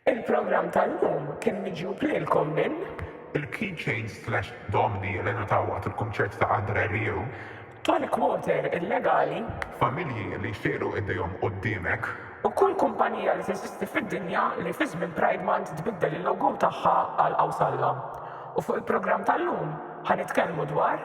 Il-programm tal-lum kien miġjub lilkom minn. Il-Keychains Slash Domni li ngħataw waqt il-kunċert ta' Andre Rieu. Tonic Water illegali. Familji li jxejru idejhom quddiemek. U kull kumpanija li teżisti fid-dinja li fi żmien Pride Month tbiddel il-logo tagħha għal Awsalla. U fuq il-programm tal-lum ħa nitkellmu dwar.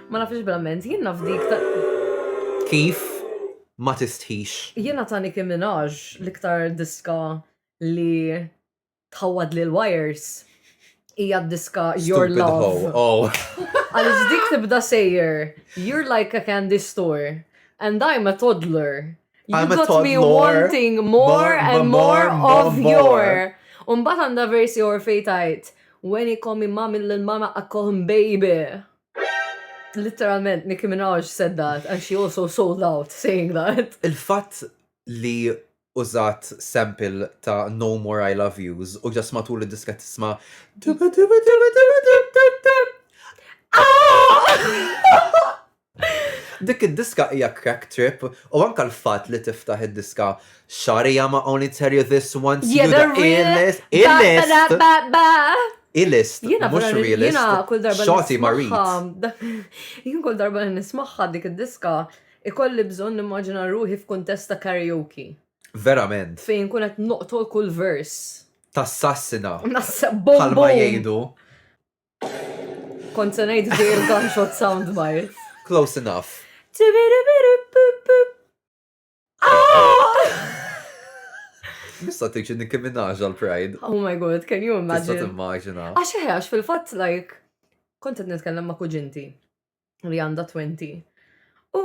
Ma nafx bl-amment, jien naf dik ta' Kif ma tistħix? Jiena ta' Nicki Minaj l-iktar diska li tħawwadli l-wires hija d-diska Your Stupid Love. hoe. Oh. Għaliex dik tibda sejjer, you're like a candy store, and I'm a toddler. You I'm a got me toddler. wanting more More, and more, more more, of more. your. Umbat għanda versi or fejtajt, when he call me mommy, lil mama, I call him baby. Literalment, Nicki Minaj said that and she also sold out saying that. Il-fatt li użat sample ta' No More I Love Yous u ġas matul id-diska tisma' Dik id-diska hija crack trip u anka l-fatt li tiftaħ id-diska Sorry I'ma only tell you this once You're the realest Illest Illest, mux realist. Jena kull darba Xoti marit. Jien kull darba nismaħħa dik id-diska, ikolli bżon nimmaġina ruħi f'kuntesta karaoke. Verament. Fejn kun qed noqtol kull vers. Tassassina. Bħal ma jgħidu. Kont se ngħid dejjem gunshot soundbite. Close enough. Nista' tiġi Nicki Minaj għal Pride. Oh my god, can you imagine? Tista' timmaġina. Għax eħe, għax fil-fatt like kont qed nitkellem ma' kuġinti li għandha 20. U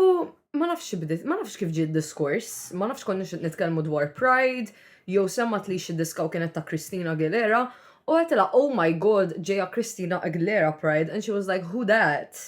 ma nafx bdiet, ma nafx kif ġie diskors, ma nafx konni nitkellmu dwar Pride, jew semmat li xi diska u kienet ta' Christina Aguilera, u għetela, oh my god, ġeja Christina Aguilera Pride, and she was like, who that?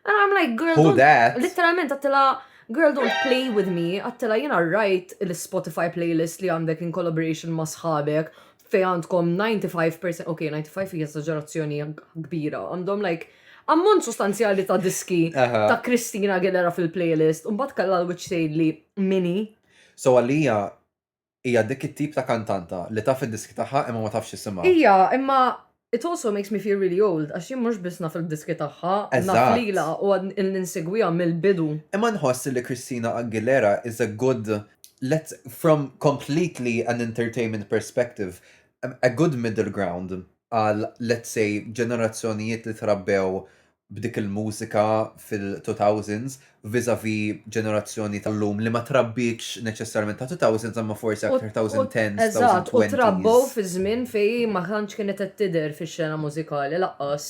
And I'm like, girl, Who don't, that? literalment għattila, girl, don't play with me, għattila jena rajt l-Spotify playlist li għandek in collaboration ma sħabek, fej għandkom 95%, ok, 95 hija esaġerazzjoni kbira, għandhom like, ammont sostanzjali ta' diski Aha. ta' Kristina Aguilera fil-playlist, un bat kalla l-witch tgħidli mini. So għalija, Hija dik it-tip ta' kantanta li taf id-diski tagħha imma ma tafx isimha. Hija, imma it also makes me feel really old għax jien mhux biss naf il-diski tagħha, naf lilha u għad ilni nsegwiha mill-bidu. Imma nħoss li Christina Aguilera is a good, let's, from completely an entertainment perspective, a good middle ground għal, let's say, ġenerazzjonijiet li trabbew b'dik il-mużika fil-two thousands vis-à-vis ġenerazzjoni tal-lum li ma trabbietx neċessarjament ta' two thousands imma forsi aktar thousand tens, thousand twenties. Eżatt, u trabbew fi żmien fejn ma tantx kienet qed tidher fix-xena mużikali lanqas.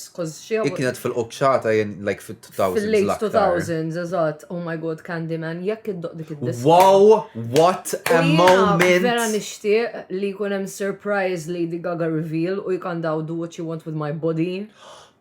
Hi kienet fil-quċċata jien like fit-two thousands l-aktar. Fil-late two thousands, eżatt. Oh my God, Candyman, jekk iddoqq dik id-diska. Wow, what a moment! Jiena vera nixtieq li jkun hemm surprise Lady Gaga reveal u jkantaw Do What You Want With My Body.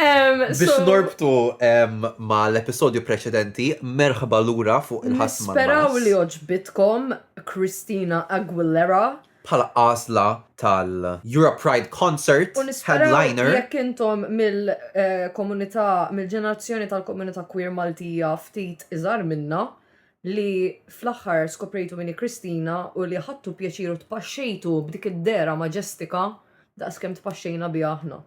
Biex norbtu ma l-episodju preċedenti, merħba lura fuq il-ħasma. Speraw li oġbitkom Christina Aguilera. Bħala għazla tal-Euro Pride Concert headliner. Jekk intom mill-komunità, mill-ġenerazzjoni tal-komunità queer Maltija ftit iżar minna, li fl-aħħar skoprejtu min hi Kristina u li ħadtu pjaċir u tpaxxejtu b'dik id-dehra maġestika daqs kemm tpaxxejna biha aħna.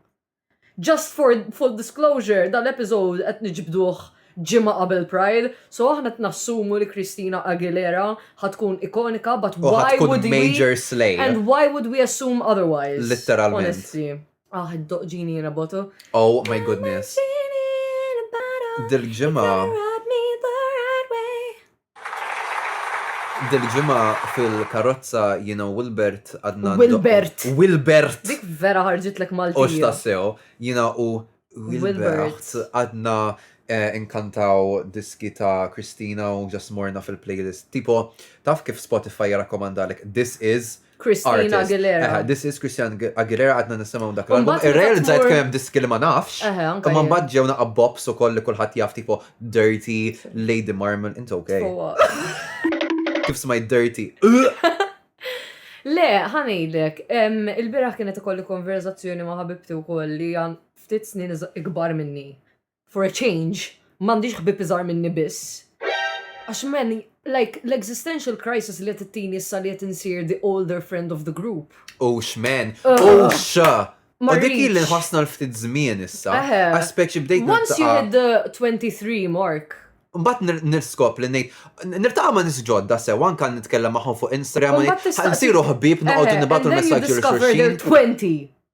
Just for full disclosure, dal-episode qed niġbduh ġimgħa qabel Pride, so aħna qed nassumu li Kristina Aguilera ħatkun ikonika, but why would we major slay. And why would we assume otherwise? Literalment. Honestly. Ah, id-doq ġini in a bottle. Oh my goodness. Dil-ġimgħa Dil-ġimgħa fil-karozza jiena u Wilbert għadna. Wilbert. Wilbert! Dik vera ħarġitlek Malti. Ox tassew, jiena u Wilbert għadna eh, inkantaw diski ta' Kristina u ġasmorna fil-playlist. Tipo, taf kif Spotify jirrakkomandalek This Is Christina Aguilera. Eħe, this is Christina Aguilera għadna nisimgħu dak l-album. Irrealizzajt kemm hemm diski li ma nafx. Eħe, anke. Ma mbagħad ġew naqa' bops ukoll li kulħadd jaf tipo Dirty, Lady Marmon, inti okay. Kif smajt Dirty. Le, ħanejdek, il-biraħ kienet ikolli konverzazzjoni ma' ħabibti wkoll li għan ftit snin ikbar minni. For a change, m'għandix ħbieb iżgħar minni biss. Għax man, like, l-existential crisis li qed ittini issa li qed insir the older friend of the group. Ux man, ux! U dik li nħossna l-ftit żmien issa. Għax speċi bdejt. Once you hit the 23 mark, Mbatt nirskop li nejt, nirtaqa ma nisġodda sew, anka nitkellem maħħom fuq Instagram, nsiru ħbib, noqogħdu nibatu l-messagġi l-xurxin. 20.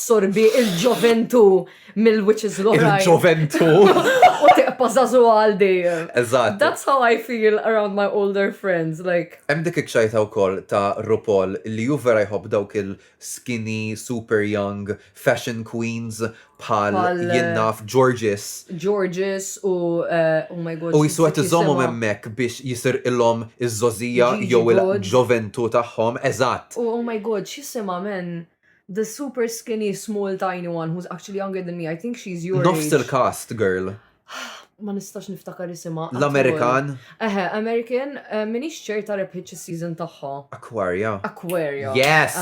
Sorbi il-ġoventu mill-witches l-oħrajn. Il-ġoventu. U tiqpa zazu għal dejjem. Eżatt. That's how I feel around my older friends, like. Hemm dik iċ-ċajta wkoll ta' RuPaul li hu vera jħobb dawk il-skinny, super young, fashion queens bħal jien naf Georges. Georges u eh, oh my god. U jisu qed iżommhom hemmhekk biex jisir ilhom iż-żożija jew il-ġoventu tagħhom, eżatt. Oh my god, x'jisimha men? The super skinny small tiny one who's actually younger than me, I think she's your age. Nofs il-cast girl. Ma nistax niftakar isimha. L-Amerikan. Eħe, American, eh, minix ċerta rebħitx is-season tagħha. Aquaria. Aquaria. Yes!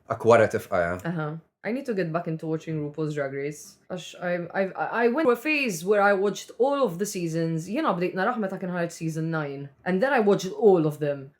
Aquaria tifqaja. Aha. I need to get back into watching RuPaul's Drag Race. Għax I, I, I went to a phase where I watched all of the seasons. Jena bdejt naraħ meta kien ħarġ season 9. And then I watched all of them.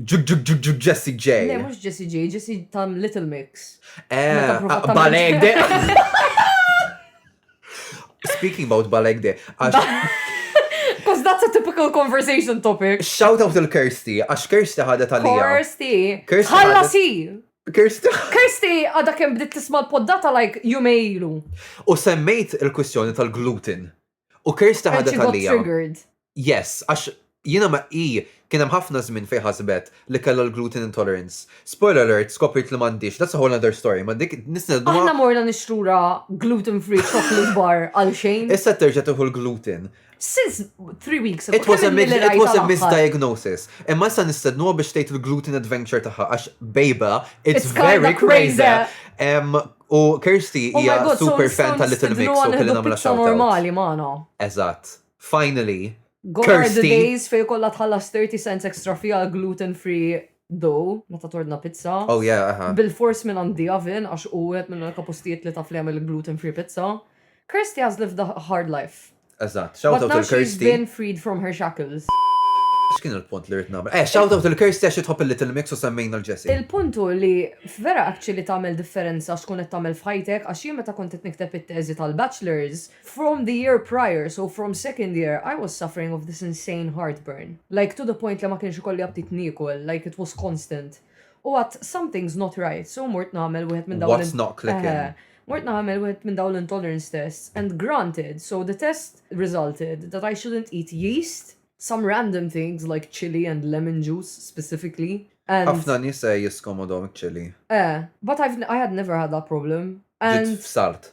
Jessie J. Le, mux Jessie J, Jessie tam Little Mix. Eh, Baleg de. Speaking about Baleg de. Because that's a typical conversation topic. Shout out to Kirsty, għax Kirsty ħadet għalija. Kirsty. Kirsty. Ħalla si. Kirsty. Kirsty għada kem bdiet tisma l-poddata like jumejlu. U semmejt il-kwistjoni tal-gluten. U Kirsta ħadet għalija. Yes, għax jina ma i kien hemm ħafna żmien fejn ħasbet li kellha l-gluten intolerance. Spoiler alert, skopriet li m'għandix, that's a whole other story, ma dik nisna dwar. Aħna morna nixtrura gluten free chocolate bar għal xejn. Issa terġa' tieħu l-gluten. Since three weeks ago. It was a, it was a misdiagnosis. Imma issa nistednuha biex tgħid il-gluten adventure tagħha għax bejba, it's, it's very crazy. crazy. Um, U Kirsty Oh my hija God, so super nistgħu fan tal-Little Mix nistidnuha u kelli nieħdu nagħmilha pizza shout out. normali magħna. Eżatt. Finally. Gone are the Kirsty! days fejn ikollha tħallas 30 cents extra fee għal gluten free dough meta tordna pizza. Oh yeah, aha. Bilfors minn għand The Oven għax hu wieħed mill-unika postijiet li taf li jagħmel il-gluten free pizza. Kirsty għażlet f'da hard life. Eżatt, shout out il-Kirsty. been freed from her shackles. X'kien il-punt li rrid nagħmel? Eh, shout out il-Kirsty għax jitħobb il-Little Mix u semmejna l-Jessie. Il-punt hu li vera actually tagħmel differenza x'tkun qed tagħmel f'ħajtek għax jien meta kont qed nikteb it-teżi tal-bachelor's, from the year prior, so from second year, I was suffering of this insane heartburn. Like to the point li ma kienx ikolli aptit niekol, like it was constant. U għat something's not right, so mort nagħmel wieħed minn dawn. What's not clicking. Eh, mort nagħmel wieħed minn dawn l-intolerance tests and granted, so the test resulted that I shouldn't eat yeast, some random things like chili and lemon juice specifically. Ħafna nies se jiskomodhom chili. Eh, but I've, I had never had that problem. And f'salt.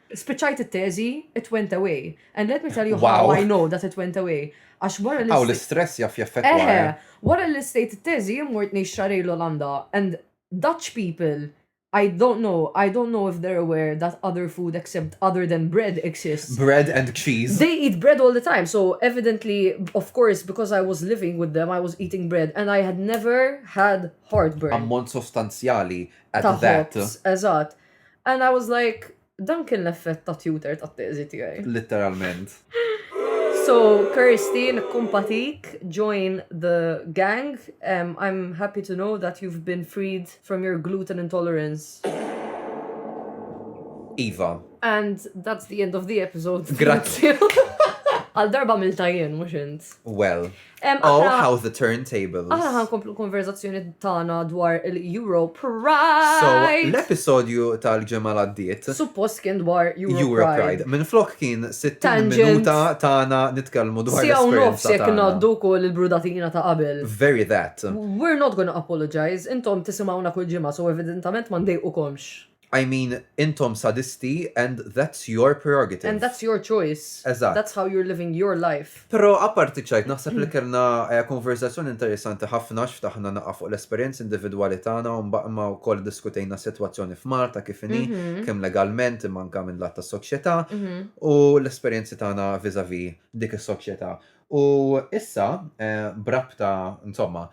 Spiċċajt it-teżi, it went away. And let me tell you how I know that it went away. Għax wara li. Hawn l-istress jaf jaffettwa. Eħe, wara li stejt it-teżi jien mort ngħix xahrejn l-Olanda and Dutch people I don't know, I don't know if they're aware that other food except other than bread exists. Bread and cheese. They eat bread all the time, so evidently, of course, because I was living with them, I was eating bread and I had never had heartburn. Ammont sostanzjali at that. Eżatt. And I was like, dan kien l-effett ta' tutor ta' teżi tiegħi. Literalment. So, Kirsty, nikkumpatik, join the gang. Um, I'm happy to know that you've been freed from your gluten intolerance. Iva. And that's the end of the episode. Grazzi. Għal darba mil tajjen, mux int. Well. Oh, how the turntables. Aħna ħan komplu konverzazzjoni tagħna dwar il-Euro Pride. So, l-episodju tal-ġemma l-addiet. Suppost kien dwar Euro, Euro Pride. Pride. Minn flok kien 60 minuta tagħna nitkellmu dwar Sija u nofs jekk naddu kol il-brudatina ta' qabel. Very that. We're not gonna apologize. Intom tisimawna kull ġimgħa, so evidentament ma ndejqukomx. I mean, intom sadisti and that's your prerogative. And that's your choice. Eżatt. That's how you're living your life. Però apparti ċajt, naħseb li kellna konverżazzjoni interessanti ħafna x'ftaħna naqa' fuq l-esperjenzi individwali tagħna u mbagħma wkoll iddiskutejna s-sitwazzjoni f'Malta kif inhi, kemm legalment imma anke minn lat tas-soċjetà u l-esperjenzi tagħna vis-à-vis dik is-soċjetà. U issa, b'rabta, insomma,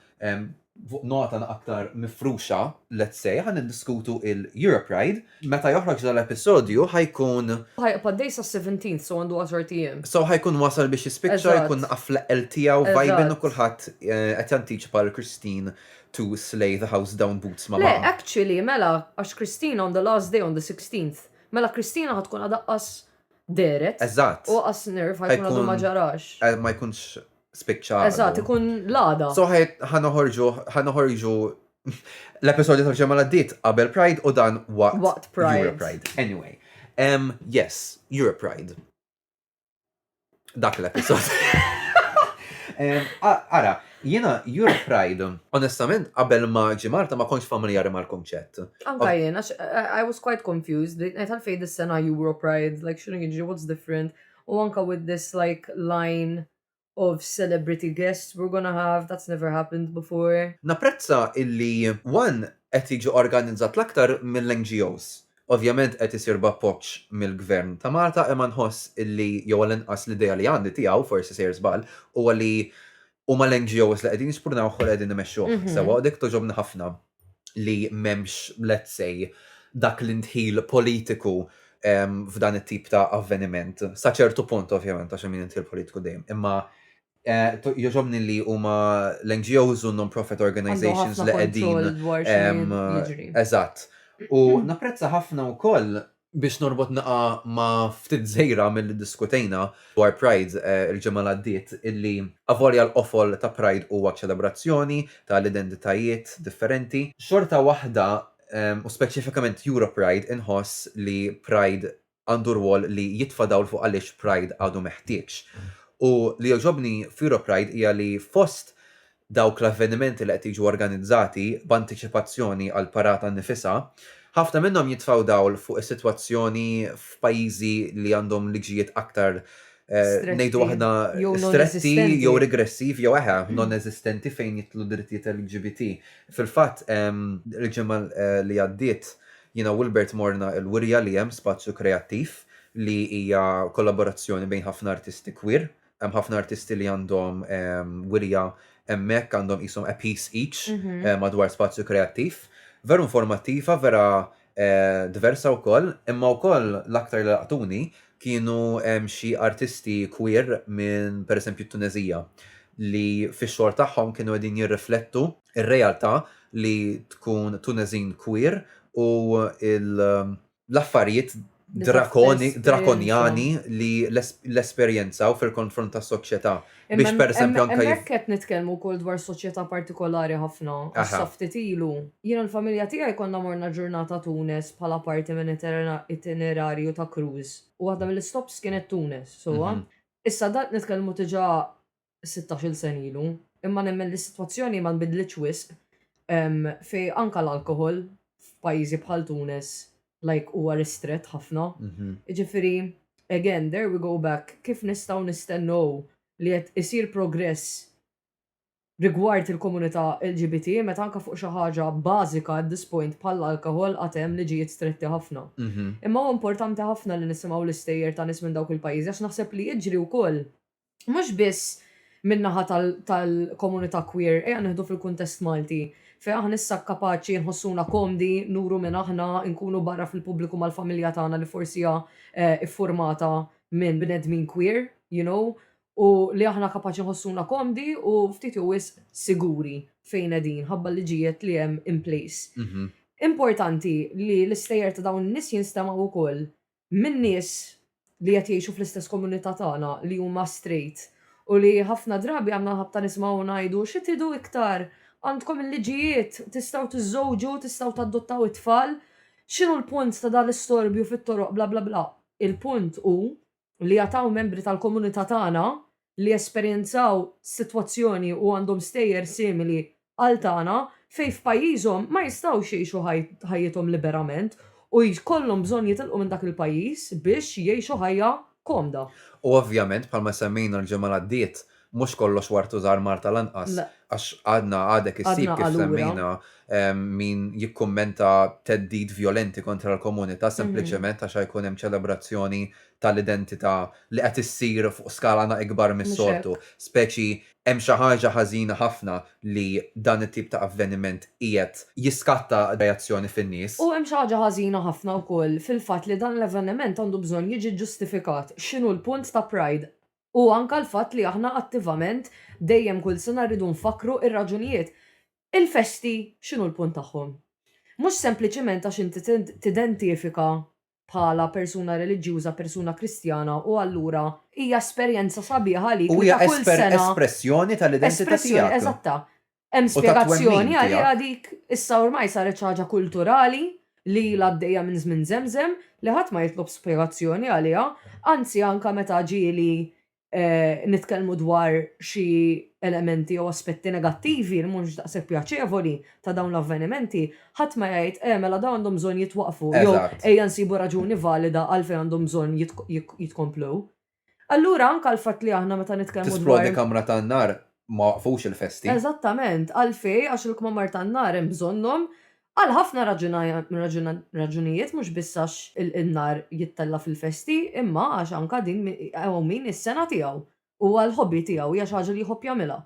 Fuq nota aktar mifruxa, let's say, ħa niddiskutu il-Europride. Meta joħroġ dal-episodju ħa jkun. Ħa jibqa' dej sas-seventeenth, so għandu għaxart ijiem. So ħa jkun wasal biex jispiċċa, jkun naqaf fl-eqqel tiegħu, vibin u kulħadd qed jantiċipa lil Christine to slay the house down boots ma' magħha. Le, actually, mela, għax Christine on the last day on the sixteenth, mela Christina ħa tkun għadha qas dehret. Eżatt. U qas nerve ħa jkun għadu ma ġarax. Ma jkunx spiċċa. Eżatt, ikun l-għada. Soħet ħanoħorġu ħanoħorġu l-episodju tal-ġemma l-għaddit qabel Pride u dan waqt. Waqt Pride. Europe Pride. Anyway. Um, yes, Europe Pride. Dak l-episod. Ara, jena Europe Pride, onestament, qabel ma ġimarta ma konx familjari mal konċett Anka jena, I was quite confused, għetal fej dis-sena Europe Pride, like xinu jġi, what's different? U anka with this like line of celebrity guests we're gonna have, that's never happened before. Napprezza illi one qed jiġi organizzat l-aktar mill-NGOs. Ovvjament qed isir b'appoġġ mill-Gvern ta' Malta imma nħoss illi, jew għall-inqas l-idea li għandi tiegħu, forsi sejjer żball, huwa li huma l-NGOs li qegħdin jispurnawh u li qegħdin imexxuh sewwa u dik togħġobni ħafna. li m'hemmx, let's say, dak l-indħil politiku f'dan it-tip ta' avveniment. Sa ċertu punt ovvjament għax hemm indħil politiku dejjem, imma Eh, Joġobni li huma l-NGOs u non-profit organizations li qegħdin. Eżatt. U napprezza ħafna wkoll Biex norbot naqa' ma' ftit żejra milli ddiskutejna dwar Pride il-ġimgħa li għaddiet illi avolja l-qofol ta' Pride huwa ċelebrazzjoni ta' l-identitajiet differenti, xorta waħda u speċifikament Europride inħoss li Pride għandu rwol li jitfa' dawl fuq għaliex Pride għadu meħtieġ. U li jogħġobni f'Europride hija li fost dawk l-avvenimenti li qed jiġu organizzati b'antiċipazzjoni għall-parata nnifisha, ħafna minnhom jitfgħu dawl fuq is-sitwazzjoni f'pajjiżi li għandhom liġijiet aktar, ngħidu aħna, stretti jew regressivi jew eħe, non-eżistenti fejn jidħlu d-drittijiet LGBT. Fil-fatt, il-ġimgħa li għaddiet, jiena u Wilbert morna l-wirja li hemm Spazju Kreattiv li hija kollaborazzjoni bejn ħafna artisti queer hemm ħafna artisti li għandhom ehm, wirja hemmhekk għandhom qishom a piece each mhm. eh, madwar spazju kreattiv. Veru informattiva, vera eh, diversa wkoll, imma wkoll l-aktar li laqtuni kienu ehm, xi artisti queer minn pereżempju t-Tunezija li fix-xogħol tagħhom kienu qegħdin jirriflettu ir-realtà li tkun Tunezin queer u il- l-affarijiet drakonjani li l-esperjenzaw fil-konfront ta' soċjetà biex per eżempju anke. Imma hekk qed nitkellmu wkoll dwar soċjetà partikolari ħafna għax sa ftit ilu jien u l-familja tiegħi konna morna ġurnata Tunis bħala parti minn itinerarju ta' cruise u waħda mill-istops kienet Tunis sewwa. Issa dan qed nitkellmu diġà sittax-il sena ilu, imma nemmen li s-sitwazzjoni ma nbidlitx wisq fejn anke l-alkoħol f'pajjiżi bħal Tunis like huwa ristrett ħafna. Jiġifieri again there we go back kif nistgħu nistennew li qed isir progress rigward il-komunità LGBT meta anke fuq xi ħaġa bażika at this point bħall-alkoħol għad hemm liġijiet stretti ħafna. Imma huwa importanti ħafna li nisimgħu l-istejjer ta' nies minn dawk il-pajjiżi għax naħseb li jiġri wkoll mhux biss min-naħa tal-komunità queer, ejja nieħdu fil-kuntest Malti, fejn aħna issa kapaċi nħossuna komdi nuru min aħna, inkunu barra fil-pubbliku mal-familja tagħna li forsi hija ffurmata minn bnedmin queer, you know, u li aħna kapaċi nħossuna komdi u ftit jew wisq siguri fejn qegħdin ħabba l-liġijiet li hemm in place. Importanti li l-istejjer ta' dawn in-nies jinstemgħu wkoll minn nies li qed jgħixu fl-istess komunità tagħna li huma straight u li ħafna drabi għandna l-ħabta nismgħu ngħidu xi tridu iktar? Għandkom il-liġijiet, tistgħu tiżżewġu, tistgħu tadottaw it-tfal, x'inhu l-punt ta' dan l-istorbju fit-toroq bla bla bla. Il-punt hu li għad hawn membri tal-komunità tagħna li esperjenzaw sitwazzjoni u għandhom stejjer simili għal tagħna fejn f'pajjiżhom ma jistgħux jgħixu ħajjithom liberament u jkollhom bżonn jitilqu minn dak il-pajjiż biex jgħixu ħajja komda. U ovvjament, bħalma semmejna l-ġimgħa l-għaddiet, mhux kollox wartu żahar Malta lanqas, għax għadna għadek issib kif semmejna min jikkummenta theddid vjolenti kontra l-komunità sempliċement għax ħa jkun hemm ċelebrazzjoni tal-identità li qed issir fuq skala na ikbar mis-soltu, speċi hemm xi ħaġa ħażina ħafna li dan it-tip ta' avveniment qiegħed jiskatta reazzjoni fin-nies. U hemm xi ħaġa ħażina ħafna wkoll fil-fatt li dan l-avveniment għandu bżonn jiġi ġġustifikat. X'inhu l-punt ta' Pride? U anke l-fatt li aħna attivament dejjem kull sena rridu nfakkru r-raġunijiet. Il-festi x'inhu l-punt tagħhom? Mhux sempliċiment għax inti tidentifika bħala persuna reliġjuża, persuna Kristjana u allura hija esperjenza sabiħa għalik li ta' kull sena. U hija espressjoni tal-identità tiegħek. Eżatta. Hemm spjegazzjoni għaliha dik issa ormai saret xi ħaġa kulturali li ilha għaddejja minn żmien żemżem li ħadd ma jitlob spjegazzjoni għaliha, anzi anke meta ġieli nitkellmu dwar xi elementi jew aspetti negattivi li mhux daqshekk pjaċevoli ta' dawn l-avvenimenti, ħadd ma jgħid, eh mela dawn għandhom bżonn jitwaqqfu jew ejja nsibu raġuni valida għalfejn għandhom bżonn jitkomplu. Allura anke l-fatt li aħna meta nitkellmu dwar. Tisplodi kamra tan-nar ma waqqfux il-festi. Eżattament, għalfejn għax il-kmamar tan-nar hemm bżonnhom Għal ħafna raġunijiet mhux biss għax in-nar jittella' fil-festi imma għax anka din hawn min is-sengħa tiegħu u huwa l-hobby tiegħu hija xi ħaġa li jħobb jagħmilha.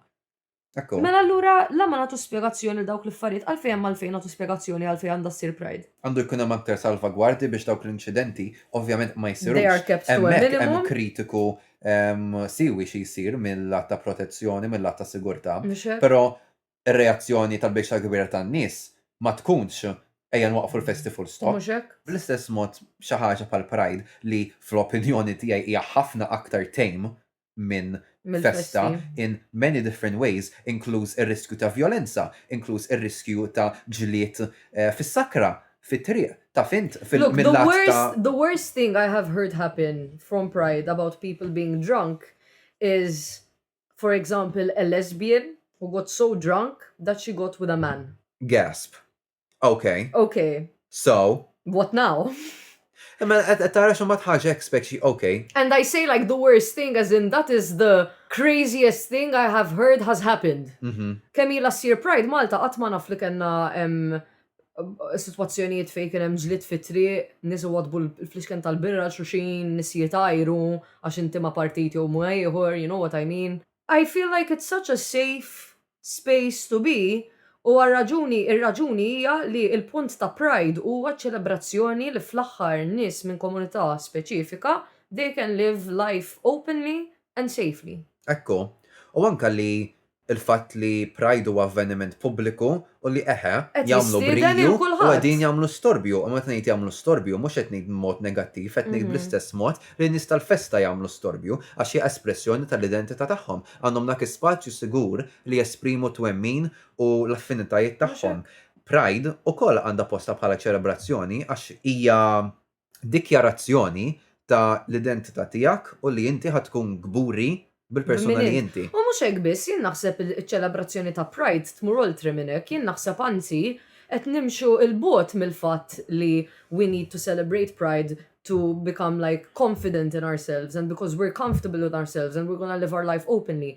Mela allura la ma nagħtux spjegazzjoni għal dawk l-affarijiet għalfejn hemm għalfejn nagħtu spjegazzjoni għalfejn għandha ssir Pride. Għandu jkun hemm aktar salvagwardji biex dawk l-inċidenti ovvjament ma jsirux. Hemmhekk hemm kritiku siwi xi jsir mil-lat ta' protezzjoni, mil-lat ta' sigurtà. Però ir-reazzjoni tal-biċċa l-kbira tan-nies ma tkunx ejja nwaqqfu l-festi full stop. Mhux hekk? Bl-istess mod xi ħaġa bħal Pride li fl-opinjoni tiegħi hija ħafna aktar tame minn festa in many different ways inkluż ir-riskju ta' vjolenza, inkluż ir-riskju ta' ġlied fis-sakra, fit-triq, taf int mill-lat ta'. Look, the worst thing I have heard happen from Pride about people being drunk is For example, a lesbian who got so drunk that she got with a man. Gasp. Ok. Ok. So. What now? Imma qed tara xi mbagħad ħaġa hekk speċi ok. And I say like the worst thing as in that is the craziest thing I have heard has happened. Kemm ilha ssir Pride Malta qatt ma naf li kellna situazzjonijiet fej kien hemm ġlit fi triq, nies iwadbu l-flixken tal-birra xuxin, nies jitajru għax inti ma' partit jew ma' ieħor, you know what I mean. I feel like it's such a safe space to be u għar-raġuni ir-raġuni hija li l-punt ta' pride huwa ċ-ċelebrazzjoni li fl-aħħar nies minn komunità speċifika they can live life openly and safely. Hekk hu. U anke li il-fatt li Pride huwa avveniment pubbliku u li eħe, jagħmlu briju u qegħdin jagħmlu storbju. U meta ngħid jagħmlu storbju mhux qed ngħid b'mod negattiv, qed ngħid bl-istess mod li n-nies tal-festa jagħmlu storbju għax hija espressjoni tal-identità tagħhom. Għandhom dak ispazju sigur li jesprimu t-twemmin u l-affinitajiet tagħhom. Pride ukoll għandha postha bħala ċelebrazzjoni għax hija dikjarazzjoni ta' l-identità tiegħek u li inti ħa tkun kburi bil-persuna li inti. U mhux hekk biss, jien naħseb iċ-ċelebrazzjoni ta' Pride tmur oltre minn hekk, jien naħseb anzi qed nimxu 'l bogħod mill-fatt li we need to celebrate Pride to become like confident in ourselves and because we're comfortable with ourselves and we're gonna live our life openly.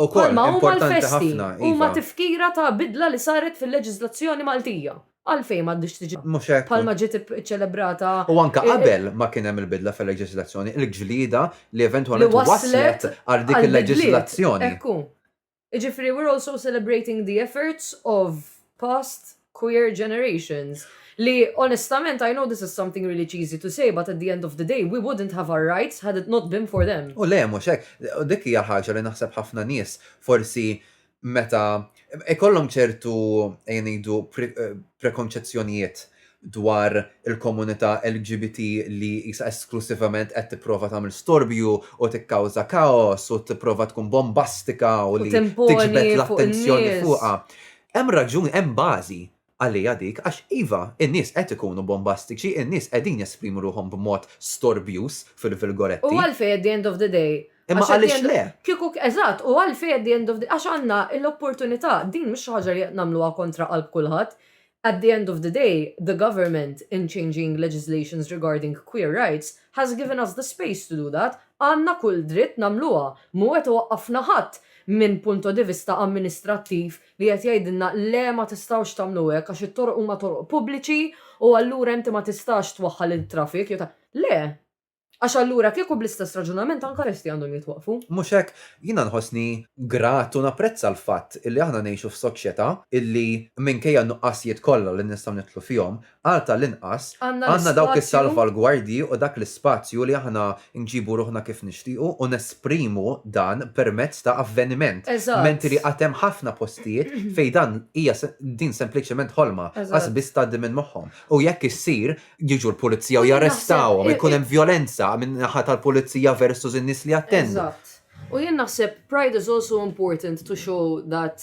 U kol, Palma huma importanti l-festi, ħafna. huma iva. tifkira ta' bidla li saret fil-leġiżlazzjoni Maltija. Għalfejn m'għandhiex tiġi Mhux hekk. bħalma ġiet ip- iċċelebrata U anka eh, eh. qabel ma kien hemm il-bidla fil-leġiżlazzjoni, il-ġlieda li eventwalment Li wasslet waslet għal dik għal il-leġiżlazzjoni. Ekku. Jiġifieri we're also celebrating the efforts of past queer generations li onestament I know this is something really cheesy to say but at the end of the day we wouldn't have our rights had it not been for them. U le mhux hekk, dik hija l-ħaġa li naħseb ħafna nies forsi meta ikollhom ċertu ejja ngħidu prekonċezzjonijiet dwar il-komunità LGBT li qisha esklussivament qed tipprova tagħmel storbju u tikkawża kaos u tipprova tkun bombastika u li tiġbed l-attenzjoni fuqha. Hemm raġuni, hemm bażi għaliha dik għax iva, in-nies qed ikunu bombastiċi, in-nies qegħdin jesprimu ruħhom b'mod storbjuż fil-virgoletti. U għalfejn at the end of the day? Imma għaliex le? Kieku, eżatt, u għalfejn at the end of the, għax għandna l-opportunità, din mhix xi ħaġa li qed nagħmluha kontra qalb kulħadd, at the end of the day, the government in changing legislations regarding queer rights has given us the space to do that, Għandna kull dritt nagħmluha, mhu qed iwaqqafna ħadd minn punto di vista amministrattiv li qed jgħidilna le ma tistgħux tagħmlu hekk għax it-toroq huma toroq pubbliċi u allura inti ma tistax twaħħal it-traffic jew ta'. Le! Għax allura kieku bl-istess raġunament anke l-esti għandhom jitwaqqfu. Mhux hekk? Jiena nħossni grat u napprezza l-fatt illi aħna ngħixu f'soċjetà illi minkejja n-nuqqasijiet kollha li nistgħu nidħlu fihom, Għal ta' l-inqas, għandna dawk is-salvalgwardji u dak l-ispazju li aħna nġibu ruħna kif nixtiequ u nesprimu dan permezz ta' avveniment, menti li għad hemm ħafna postijiet fejn dan hija din sempliċement ħolma, qas biss tgħaddi minn moħħhom. U jekk issir, jiġu l-pulizija u jarrestawhom, ikun hemm vjolenza minn naħa tal-pulizija versus in-nies li jattendu. Eżatt. U jien naħseb pride is also important to show that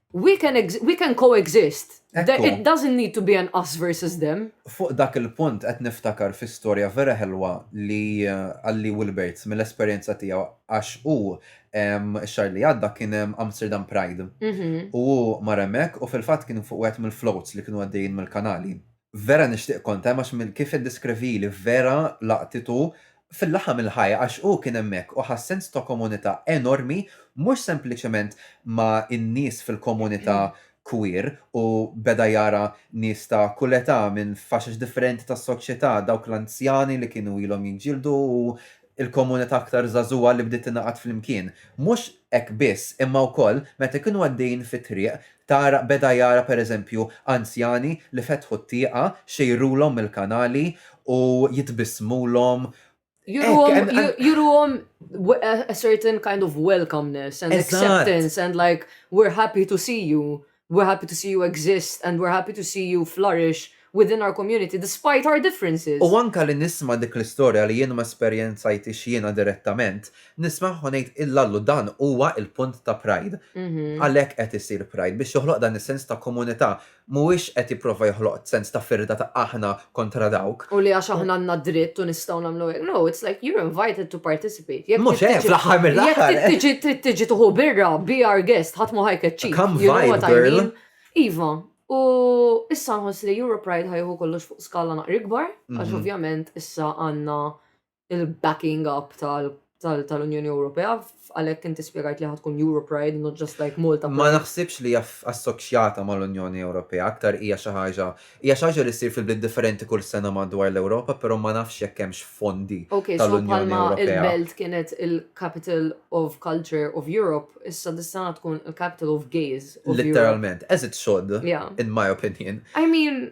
We can, we can co-exist. It doesn't need to be an us versus them. Fuq dak il-punt qed niftakar fi storja vera ħelwa li għalli Wilberts mill-esperjenza tiegħu għax hu x-xahar li għadda kien hemm Amsterdam Pride. Mhm. U hu mar hemmhekk u fil-fatt kien fuq wieħed mill-floats li kienu għaddejjin mill-kanali. Vera nixtieq kont hemm għax minn kif iddiskrivieli vera laqtitu fil-laħam il-ħaj għax hu kien hemmhekk u ħa sens ta' komunità enormi mhux sempliċement ma' in-nies fil-komunità queer u beda jara nies ta' kull età minn faxex differenti tas-soċjetà dawk l-anzjani li kienu ilhom jiġġieldu u il-komunità aktar żagħżugħa li bdiet tingħaqad flimkien. Mhux hekk biss, imma wkoll meta jkunu għaddejjin fit-triq, tara beda jara pereżempju anzjani li fetħu t-tieqa, xejrulhom mill-kanali u jitbissmulhom. Juruhom a certain kind of welcomeness and acceptance and like we're happy to see you. We're happy to see you exist and we're happy to see you flourish within our community despite our differences. U anke li nisma' dik l-istorja li jien ma esperjenzajthiex jiena direttament, nismagħha u ngħid illallu dan huwa l-punt ta' Pride. Għalhekk qed isir Pride, biex joħloq dan is-sens ta' komunità. Mhuwiex qed jipprova joħloq sens ta' firda ta' aħna kontra dawk. U li għax aħna għandna dritt u nistgħu nagħmlu hekk. No, it's like you're invited to participate. Jekk Mhux trid hekk tiġi- fl-aħħar mill-aħħar. Jekk trid tiġi trid tiġi tuħu birra, be our guest, ħadd ma ħajkeċċik. Come You know vibe, what I girl. mean? Iva, u issa nħoss li Europe Pride ħajħu kollox fuq skala naqri kbar, għax Mhm. ovvjament issa għandna il-backing up tal-Unjoni Ewropea, għalhekk inti spjegajt li ħatkun Euro Pride, not just like Malta. Ma naħsibx li assoċjata mal-Unjoni Ewropea, aktar hija xi ħaġa, hija xi ħaġa li ssir fil-bliet differenti kull sena madwar l-Ewropa, però ma nafx jekk hemmx fondi tal-Unjoni Ewropea. Il-Belt kienet il-Capital of Culture of Europe, issa dis-sena tkun il-Capital of Gays. Literalment, as it should, in my opinion. I mean,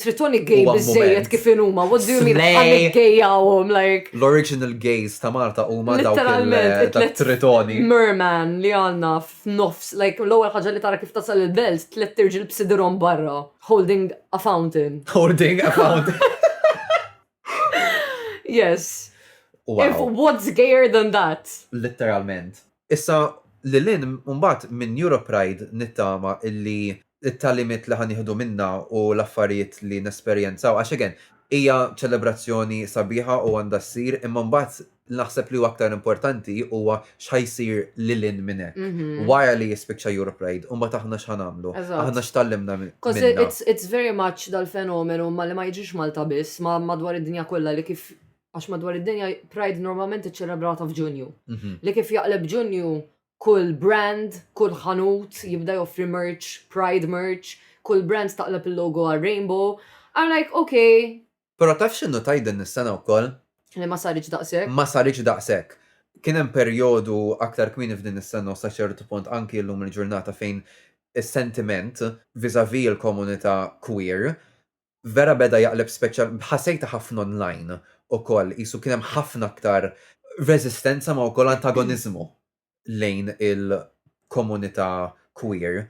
Tritoni gay Huwa biżejjed moment. kif inhuma, what do you mean? Slay. Għalli gejjawhom, like, L-original gays ta' Malta huma dawk Literalment, il- it-tlet tat-tritoni. merman li għanna f'nofs, like, l-ewwel ħaġa li tara kif tasal il-belt, tliet irġiel b'sidrhom barra, holding a fountain. Holding a pound. Yes. If Wow. what's gayer than that? Literalment. Issa lil hinn mbagħad minn Europride nittama illi t-tagħlimiet li ħa nieħdu minnha u l-affarijiet li nesperjenzaw, għax again hija ċelebrazzjoni sabiħa u għandha ssir imma mbagħad naħseb li huwa aktar importanti huwa x'ħa jsir lil hinn minn hekk. Wara li jispiċċa Europride u mbagħad aħna x'ħa nagħmlu? Aħna x'tgħallimna minnha? Coz it's very much dal-fenomenu ma li ma jiġix Malta biss ma madwar id-dinja kollha li kif għax madwar id-dinja Pride normalment iċċelebrata f'Ġunju. Mhm. Li kif jaqleb Ġunju kull brand, kull ħanut jibda joffri merch, Pride merch, kull brand taqleb il-logo għal Rainbow. I'm like, okay. Pero taf xinnu tajden nistana u koll? Li ma sarriċ daqsek? Ma sarriċ daqsek. Kienem periodu aktar kmini f'din is-sena u saċertu punt anki l-lum il-ġurnata fejn il-sentiment vis-a-vis il-komunità queer vera beda jaqleb speċjal, ħasejtha ħafna online ukoll, qisu kien hemm ħafna aktar reżistenza ma wkoll antagoniżmu lejn il-komunità queer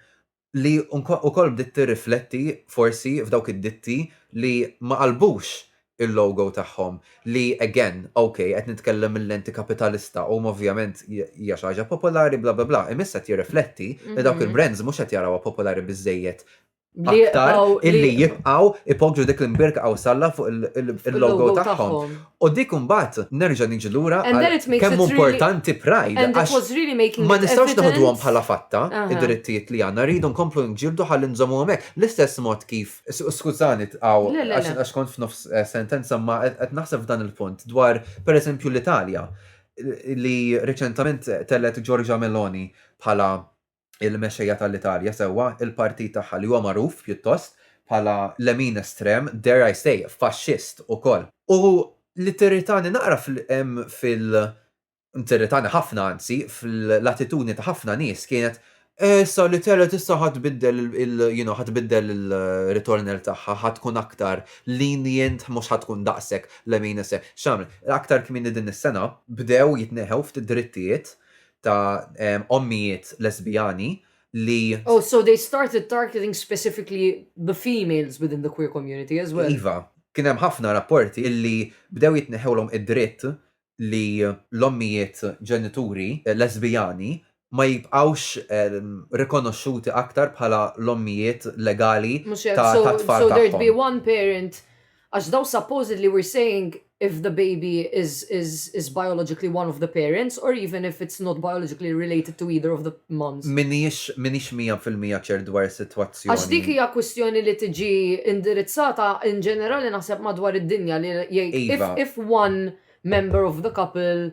li wkoll bdiet tirrifletti forsi f'dawk id-ditti li ma qalbux il-logo tagħhom li again, ok, qed nitkellem mil-lenti kapitalista huma ovvjament hija xi ħaġa popolari bla bla bla, imma issa qed jirrifletti li dawk il-brands mhux qed jarawha popolari biżżejjed aktar illi jibqaw ipogġu dik l-imbirka għaw salla fuq il-logo tagħhom. U dik mbagħad nerġa' niġi lura kemm importanti pride. Ma nistgħux naħduhom bħala fatta id-drittijiet li għandna rridu nkomplu nġildu ħalli nżommu hemmhekk. L-istess mod kif skużani tqaw għax kont f'nofs eh, sentenza ma qed naħseb f'dan il-punt dwar pereżempju l-Italja li reċentament tellet Giorgia Meloni bħala il-mexxejja tal-Italja sewwa, il-partit tagħha li huwa magħruf, pjuttost, bħala lemin estrem, dare I say, faxxist ukoll. U li tirritani naqra fil, tirritani ħafna anzi, fl-attitudni ta' ħafna nies kienet, eh issa l-Italja t'issa ħa tbiddel il, you know, ħa tbiddel il-ritornell tagħha, ħa tkun aktar lenient, mhux ħa tkun daqshekk lemin estrem. X'għamlet? Aktar kmieni din is-sena bdew jitneħħew ftit drittijiet ta' ommijiet lesbijani li. Oh, so they started targeting specifically the females within the queer community as well. Iva, kien hemm ħafna rapporti illi bdew jitneħħewlhom id-dritt li l-ommijiet ġenituri lesbijani ma jibqgħux rikonoxxuti aktar bħala l-ommijiet legali tat-tfal tagħhom. So there'd be one parent Għax dawn supposedly we're saying if the baby is is is biologically one of the parents or even if it's not biologically related to either of the mums. M'iniex m'iniex mija fil-mija ċert dwar is-sitwazzjoni. Għax dik hija kwistjoni li tiġi indirizzata in ġenerali naħseb madwar id-dinja li jgħid if if one member of the couple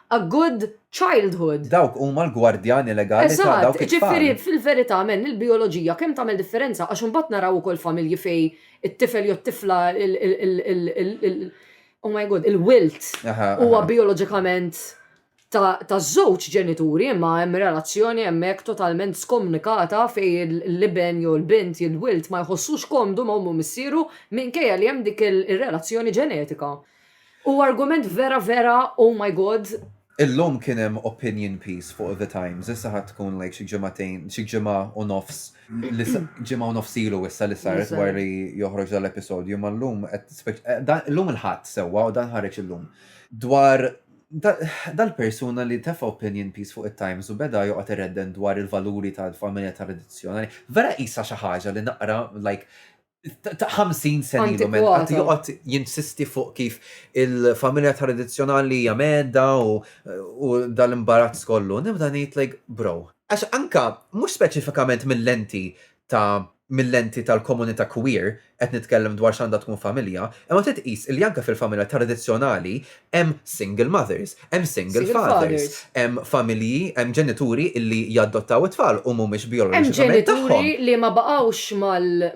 a good childhood. Dawk huma l-gwardjani legali ta' dawk it-tfal. Eżatt, jiġifieri fil-verità men il-bijoloġija kemm tagħmel differenza għax imbagħad naraw ukoll familji fejn it-tifel jew t-tifla il oh my God, il-wilt huwa bijoloġikament ta' żewġ ġenituri imma hemm relazzjoni hemmhekk totalment skomnikata fejn l-iben jew l-bint il-wilt ma jħossux komdu ma' ommu missieru minkejja li hemm dik ir-relazzjoni ġenetika. Huwa argument vera vera oh my God. Illum kien hemm opinion piece fuq The Times, issa ħa tkun like xi ġimagħtejn, xi ġimgħa u nofs, ġimgħa u nofs ilu issa li saret wara li joħroġ dan l-episodju, imma llum qed, illum il-Ħadd sewwa u dan ħareġ illum, dwar dal-persuna li tefa' opinion piece fuq it-Times u beda joqgħod iredden dwar il-valuri tal-familja tradizzjonali. Vera qisha xi ħaġa li naqra like ta' 50 sen ilu men, għat joqgħod jinsisti fuq kif il-familja tradizzjonali hija medda u dal-imbarazz kollu. Nibda ngħid like bro. Għax anka mhux speċifikament mill-lenti ta' mill-lenti tal-komunità queer qed nitkellem dwar x'għandha tkun familja, imma trid tqis li anke fil-familja tradizzjonali hemm single mothers, Hemm single fathers, hemm familji, hemm ġenituri li jaddottaw it-tfal u mhumiex bijoloġikament tagħhom. Hemm ġenituri li ma baqgħux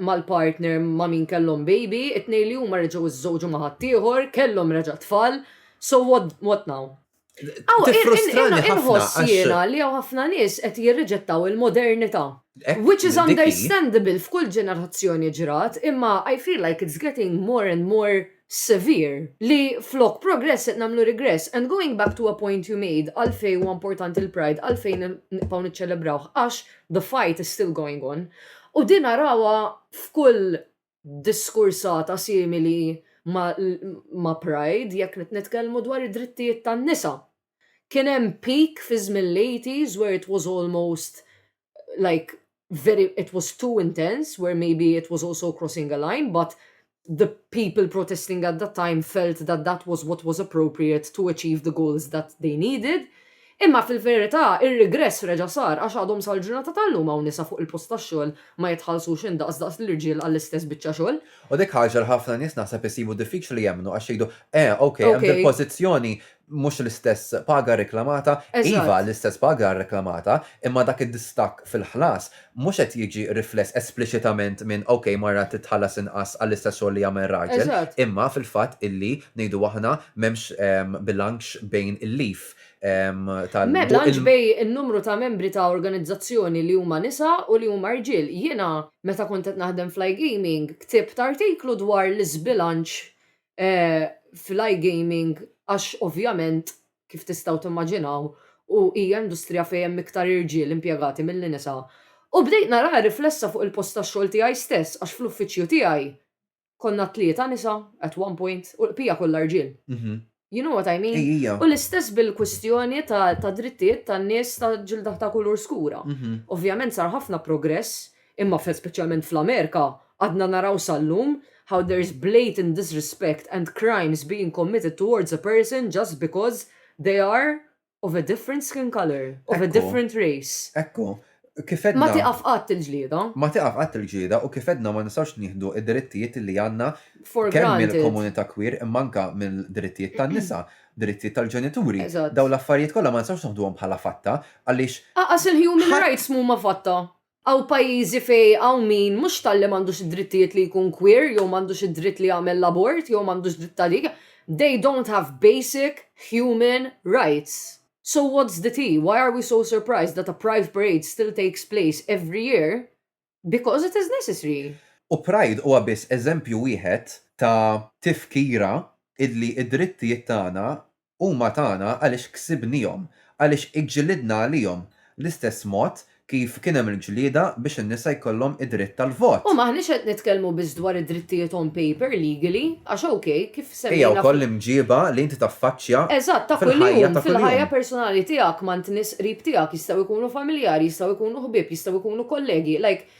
mal-partner ma' min kellhom baby, it-tnejn li huma reġgħu żżewġu ma' ħaddieħor, kellhom reġa' tfal, so what now? Inħoss jiena li hawn ħafna nies qed jirriġettaw il-modernità. Which is understandable f'kull ġenerazzjoni ġrat, imma I feel like it's getting more and more severe, li flok progress qed nagħmlu regress and going back to a point you made għalfejn huwa importanti l-Pride għalfejn nibqgħu niċċelebraw għax the fight is still going on u din arawha f'kull diskursata simili ma' Pride jekk qed nitkellmu dwar id-drittijiet tan-nisa. Kien hemm peak fi żmien l-eighties where it was almost like very it was too intense where maybe it was also crossing a line but the people protesting at that time felt that that was what was appropriate to achieve the goals that they needed. Imma fil-verità ir-rigress reġa' sar għax għadhom sal-ġurnata tal-lum hawn nisa fuq il-post tax-xogħol ma jitħallsux indaqs daqs l-irġiel għall-istess biċċa xogħol. U dik ħaġa li ħafna nies naħseb isibu diffiċli li jemmnu għax jgħidu, eh, ok, hemm dil-pożizzjoni mhux l-istess paga rreklamata, iva l-istess paga rreklamata, imma dak id-distakk fil-ħlas mhux qed jiġi rifless espliċitament minn ok mara titħallas inqas għall-istess xogħol li jagħmel raġel, imma fil-fatt illi ngħidu aħna m'hemmx bilanċ bejn il-leave tal-. M'hemm bilanċ bejn in-numru ta' membri ta' organizzazzjoni li huma nisa u li huma rġiel. Jiena meta kont qed naħdem fl-iGaming ktibt artiklu dwar l-iżbilanċ fl-iGaming għax ovvjament kif tistgħu timmaġinaw u hija industrija fejn hemm iktar irġiel impjegati milli nisa. U bdejt naraha riflessa fuq il-post tax-xogħol tiegħi stess għax fl-uffiċċju tiegħi konna tlieta nisa at one point u l-bqija kollha rġiel. You know what I mean? U l-istess bil-kwistjoni ta' drittijiet tan-nies ta' ġilda ta' kulur skura. Ovvjament sar ħafna progress Imma f'hekk speċjalment fl-Amerika għadna naraw sal-lum how there is blatant disrespect and crimes being committed towards a person just because they are of a different skin colour, of a different race. Ekku, kif għedna. Ma tieqaf qatt il-ġlieda. Ma tieqaf qatt il-ġlieda u kif għedna ma nistgħux nieħdu d-drittijiet li għandna kemm mill-komunità queer imma anke mill-drittijiet tan-nisa, drittijiet tal-ġenituri. Dawn l-affarijiet kollha ma nistgħux noħduhom bħala fatta għaliex. Aqas il-human rights m'huma fatta. Hawn pajjiżi fejn hawn min mhux talli m'għandux id-drittijiet li jkun queer jew m'għandux id-dritt li jagħmel l-abort jew m'għandux dritt ta' dik, they don't have basic human rights. So what's the tea, why are we so surprised that a pride parade still takes place every year because it is necessary? U pride huwa biss eżempju wieħed ta' tifkira illi id-drittijiet tagħna Huma tagħna għaliex ksibniehom, għaliex iġġilidna għalihom, l-istess mod kif kien hemm il-ġlieda biex in-nisa jkollhom id-dritt tal-vot. U m'aħniex qed nitkellmu biss dwar id-drittijiet on paper, legally, għax ok, kif semmejna. Hija wkoll l-imġieba li inti taffaċċja fil-ħajja ta' kuljum. Eżatt, ta' kuljum, fil-ħajja personali tiegħek ma' nies qrib tiegħek, jistgħu jkunu familjari, jistgħu jkunu ħbieb, jistgħu jkunu kollegi, like,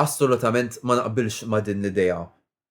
Assolutament ma naqbilx ma' din l-idea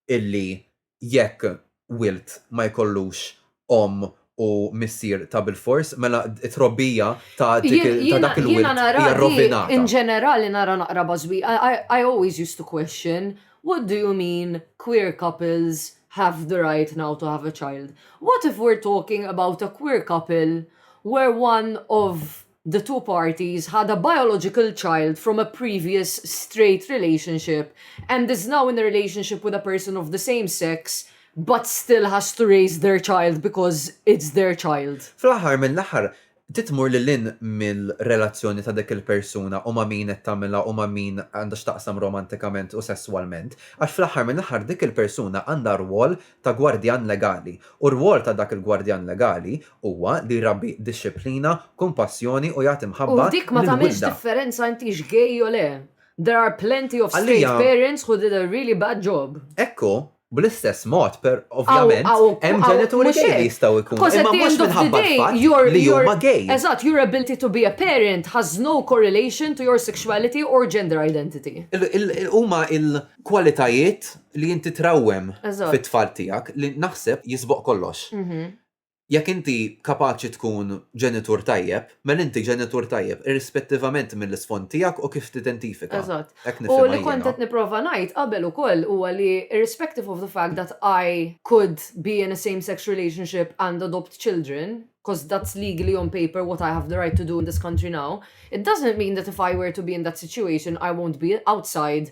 illi jekk wild ma jkollux omm u missier ta' bilfors, mela t-trobbija ta' dak il-wild hija rrovinata. Jiena nara di, in ġenerali nara naqra bażwir. I always used to question, what do you mean queer couples have the right now to have a child? What if we're talking about a queer couple where one of the two parties had a biological child from a previous straight relationship and is now in a relationship with a person of the same sex but still has to raise their child because it's their child. Fl-aħħar mill-aħħar, trid tmur lil hinn mir-relazzjoni ta' dik il-persuna u ma' min qed tagħmilha u ma' min għandha x'taqsam romantikament u sesswalment, għax fl-aħħar mill-aħħar dik il-persuna għandha rwol ta' gwardjan legali, u r-rwol ta' dak il-gwardjan legali huwa li jrabbi dixxiplina, kumpassjoni u jagħti mħabba lill-wilda. U dik ma tagħmilx differenza intix gay jew le. There are plenty of straight parents who did a really bad job. Hekk hu, bl-istess mod, per, ovvjament, hemm ġenituri gay li jistgħu jkunu, imma mhux minħabba l-fatt li huma gay. Eżatt, your ability to be a parent has no correlation to your sexuality or gender identity. Huma kwalitajiet li inti trawwem fit-tfal tiegħek li naħseb jisboq kollox. Mhm. Jekk inti kapaċi tkun ġenitur tajjeb, mela inti ġenitur tajjeb irrispettivament mill-isfond tiegħek u kif tidentifika. Eżatt. U li kont qed nipprova ngħid qabel ukoll huwa li irrespective of the fact that I could be in a same sex relationship and adopt children, because that's legally on paper what I have the right to do in this country now, it doesn't mean that if I were to be in that situation I won't be outside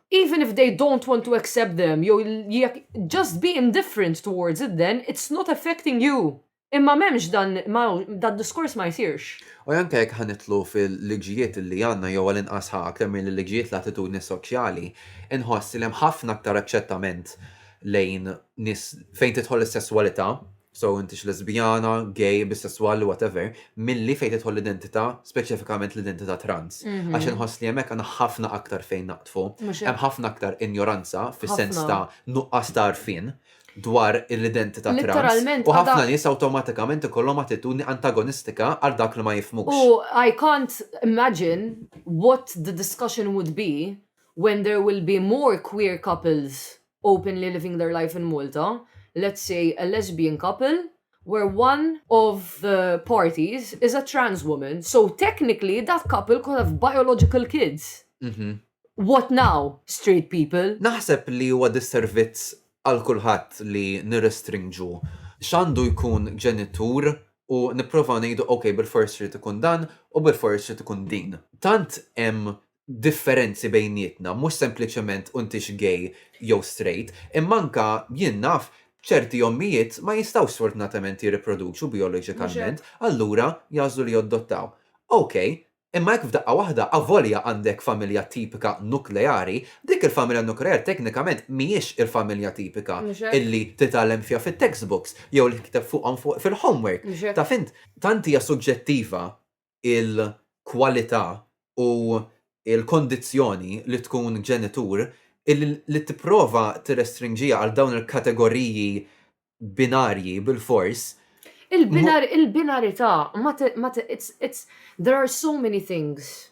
Even if they don't want to accept them jew jekk just be indifferent towards it then it's not affecting you. Imma m'hemmx dan d-diskors ma jsirx. U anke jekk ħa nidħlu fil-liġijiet li għandna jew għall-inqas ħa aktar milli liġijiet l-attitudni soċjali, inħoss li hemm ħafna aktar aċċettament lejn nies fejn tidħol is-sesswalità, so intix lesbjana, gay, bisesswal, whatever, milli fejn tidħol l-identità, speċifikament l-identità trans. Għax inħoss li hemmhekk għandna ħafna aktar fejn naqdfu. Hemm ħafna aktar injoranza fis-sens ta' nuqqas ta' għarfien dwar l-identità trans. U ħafna nies awtomatikament ikollhom attitudni antagonistika għal dak li ma jifhmux. U I can't imagine what the discussion would be when there will be more queer couples openly living their life in Malta, let's say a lesbian couple where one of the parties is a trans woman, so technically that couple could have biological kids. Mm -hmm. What now, straight people? Naħseb li huwa disservizz għal kulħadd li nirrestrinġu x'għandu jkun ġenitur u nipprovaw ngħidu ok bil-fors trid ikun dan u bil-fors trid ikun din. Tant hemm differenzi bejnietna, mhux sempliċement u intix gay jew straight, imma anke jien naf ċerti ommijiet ma jistgħux sfortunatament jirriproduċu bijoloġikament, allura jagħżlu li joddottaw. Ok, imma hekk f'daqqa waħda avolja għandek familja tipika nukleari, dik il-familja nukleari teknikament mhijiex il-familja tipika illi titgħallem fiha fit-textbooks jew li tikteb fuqhom fil-homework. Taf int? Tant hija suġġettiva il-kwalità u l-kondizzjoni li tkun ġenitur li tipprova tirrestrinġiha għal dawn il-kategoriji binarji bilfors. Il-binarità ma there are so many things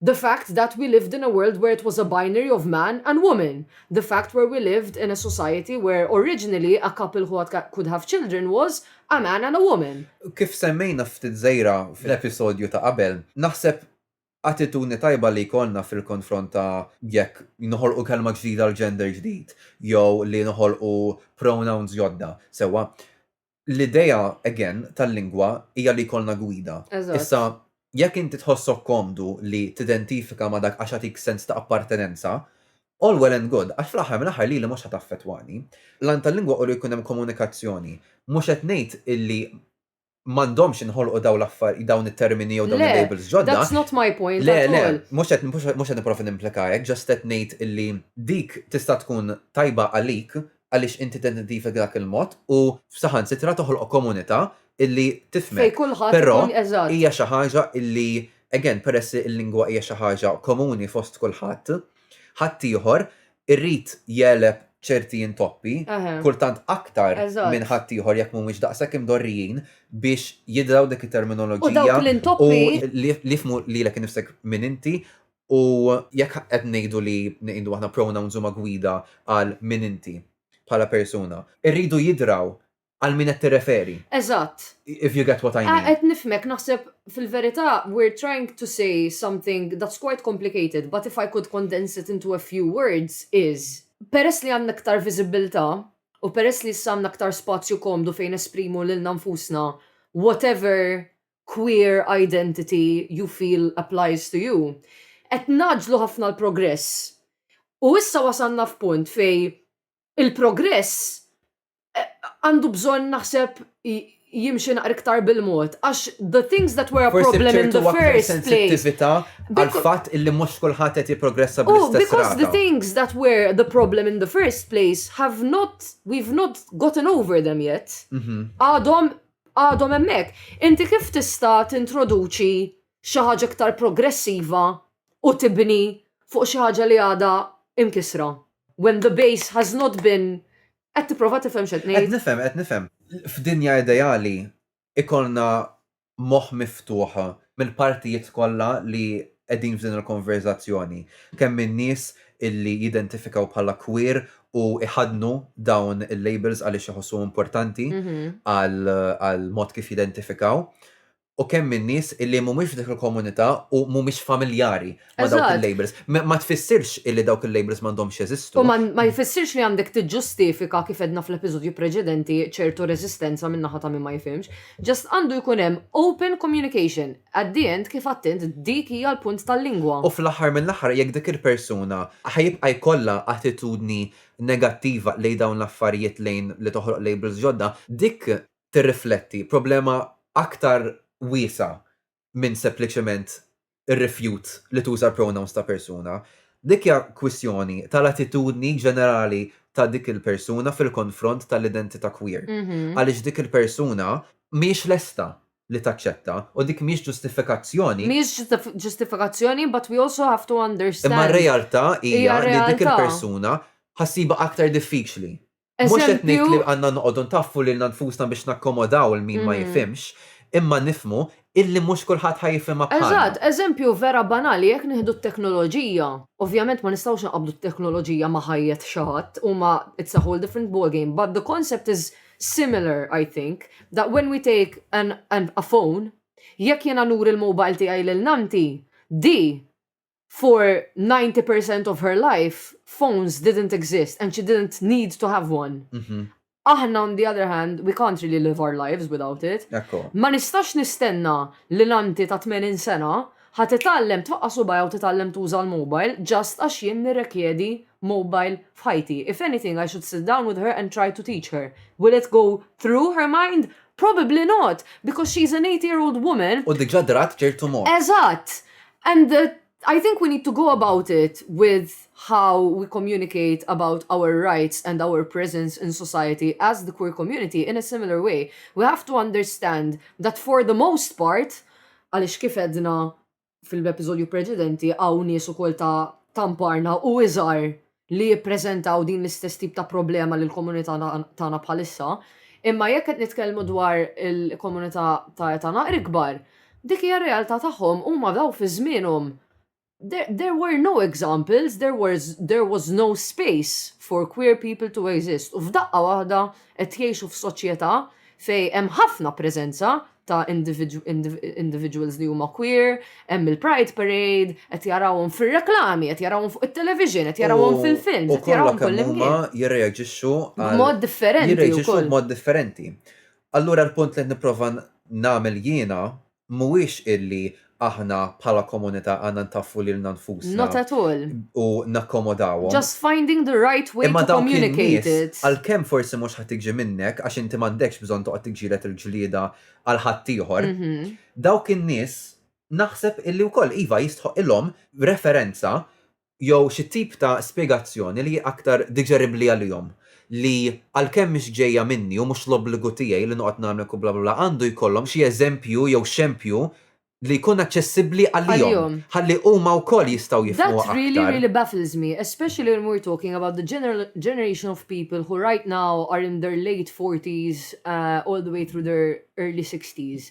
The fact that we lived in a world where it was a binary of man and woman, the fact where we lived in a society where originally a couple who could have children was a man and a woman. Kif semmejna ftit żgħira fl-episodju ta' qabel, naħseb attitudni tajba li jkollna fil-konfront ta' jekk noħolqu kelma ġdida għal gender ġdid jew li noħolqu pronouns ġodda, sewwa, l-idea again tal-lingwa hija li jkollna gwida. Eżatt. Issa, jekk inti tħossok komdu li tidentifika ma' dak għax jagħtik sens ta' appartenenza, all well and good, għax fl-aħħar mill-aħħar lili mhux ħa taffettwani. L-għan tal-lingwa hu li jkun hemm komunikazzjoni. Mhux qed ngħid illi m'għandhomx jinħolqu dawn l-affar, dawn it-termini jew dawn Le, il-labels ġodda. that's not my point Le, at le, all. mhux qed mhux qed nipprova nimplika hekk, just qed ngħid illi dik tista' tkun tajba għalik għaliex inti tidentifika dak il-mod u saħansitra toħloq komunità illi tifhmek. Fejn kulħadd ikun eżatt. Però hija xi ħaġa illi again peress li l-lingwa hija xi ħaġa komuni fost kulħadd, ħaddieħor irid jegħleb ċerti intoppi, kultant aktar minn ħaddieħor jekk mhumiex daqshekk imdorrijin biex jidraw dik it-terminoloġija u li jifhmu lilek innifsek min inti U jekk qed ngħidu li ngħidu aħna pronouns huma gwida għal min inti bħala persuna, irridu jidraw għal min qed tirreferi. Eżatt. If you get what I mean. Qed nifhmek, naħseb fil-verità we're trying to say something that's quite complicated but if I could condense it into a few words is, peress li għandna iktar viżibbiltà u peress li issa għandna iktar spazju komdu fejn nesprimu lilna nfusna whatever Queer Identity You Feel Applies to You, qed ngħaġġlu ħafna l-progress. U issa wasalna f'punt fejn il-progress għandu bżonn naħseb jimxi naqra iktar bil-mod għax the things that were a problem in the first place. Forsi b'ċertu aktar sensittività għall-fatt illi mhux kulħadd qed jipprogressa bl-istess mod. U because the things that were the problem in the first place have not, we've not gotten over them yet, għadhom għadhom hemmhekk. Inti kif tista' tintroduċi xi ħaġa iktar progressiva u tibni fuq xi ħaġa li għadha imkisra? When the base has not been qed tipprova tifhem x'qed ngħid? Qed nifhem, qed nifhem. F'dinja ideali ikollna moħħ miftuħ mill-partijiet kollha li qegħdin f'din il-konverżazzjoni, kemm min-nies illi jidentifikaw bħala queer u jħaddnu dawn il-labels għaliex iħossuhom importanti għall-mod kif jidentifikaw, u kemm min-nies illi mhumiex f'dik il-komunità u mhumiex familjari ma dawk il-labels. Ma tfissirx illi dawk il-labels m'għandhomx jeżistu. U ma jfissirx li għandek tiġġustifika kif edna fl-episodju preċedenti ċertu reżistenza minn naħa ta' min ma jifhimx. Ġast għandu jkun hemm open communication. At the end kif għadt int dik hija l-punt tal-lingwa. U fl-aħħar mill-aħħar jekk dik il-persuna ħajibqa' jkollha attitudni negattiva lejn dawn l-affarijiet lejn li toħloq labels ġodda, dik tirrifletti problema aktar wiesgħa minn sempliċement ir-rifjut li tuża l-pronouns ta' persuna. Dik hija kwistjoni tal-attitudni ġenerali ta' dik il-persuna fil-konfront tal-identità queer. Għaliex dik il-persuna mhijiex lesta li taċċetta u dik mhijiex ġustifikazzjoni. Mhijiex ġustifikazzjoni but we also have to understand. Imma r-realtà hija li dik il-persuna ħa ssibha aktar diffiċli Mhux qed ngħid li għandna noqogħdu ntaffu lilna nfusna biex nakkomodaw 'il min ma jifhimx, imma nifhmu illi mhux kulħadd ħa jifhimha bħalna. Eżatt, eżempju vera banali, jekk nieħdu t-teknoloġija, ovvjament ma nistgħux inqabbdu t-teknoloġija ma' ħajjet xi ħadd, huma it's a whole different ball game, but the concept is similar I think, that when we take an a phone, jekk jiena nuri l-mobile tiegħi lil nannti, di For 90 percent of her life, phones didn't exist and she didn't need to have one. Mhm. Aħna on the other hand, we can't really live our lives without it. Ekku. Ma nistax nistenna li l-anti ta' 80 sena ħa titgħallem tfaqqa' subgħajha u titgħallem tuża l-mobile just għax jien nirrekjedi mobile f'ħajti. If anything I should sit down with her and try to teach her. Will it go through her mind? Probably not, because she's an 80 year old woman U diġà drat ċertu mod. Eżatt! And uh, I think we need to go about it with how we communicate about our rights and our presence in society as the queer community in a similar way. We have to understand that for the most part, għalix kif edna fil-episodju preċedenti għaw nies ukoll ta' tamparna u iżar li jippreżentaw din l-istess tip ta' problema li l-komunità tagħna bħalissa, imma jekk qed nitkellmu dwar il-komunità ta' età naqra ikbar, dik hija r-realtà tagħhom, huma daw fi żmienhom there were no examples, there was, there was no space for queer people to exist u f'daqqa waħda qed jgħixu f'soċjetà fejn hemm ħafna preżenza ta' individuals li huma queer, hemm il-Pride Parade, qed jarawhom fir-reklami, qed jarawhom fuq it-television, qed jarawhom fil-film, qed jarawhom kullimkien. Jirreaġixxu b'mod differenti. Jirreaġixxu b'mod differenti. Allura l-punt li qed nipprova nagħmel jiena mhuwiex illi aħna bħala komunità għandna ntaffu lilna nfusna. Not at all. U nakkomodawhom. Just finding the right way to communicate it. Imma dawk in-nies, għalkemm forsi mhux ħa tiġi minnek għax inti m'għandekx bżonn toqgħod tiġġieled il-ġlieda għal ħaddieħor, dawk in-nies naħseb illi wkoll iva jistħoqqilhom referenza jew xi tip ta' spjegazzjoni li hi aktar diġeribbli għalihom, li għalkemm mhix ġejja minni u mhux l-obbligu tiegħi li noqgħod nagħmlek u bla bla bla, għandu jkollhom xi eżempju jew xempju li jkun aċċessibbli għalihom, ħalli huma wkoll jistgħu jifhmuha aktar. That really, really baffles me, especially when we're talking about the generation of people who right now are in their late forties all the way through their early sixties.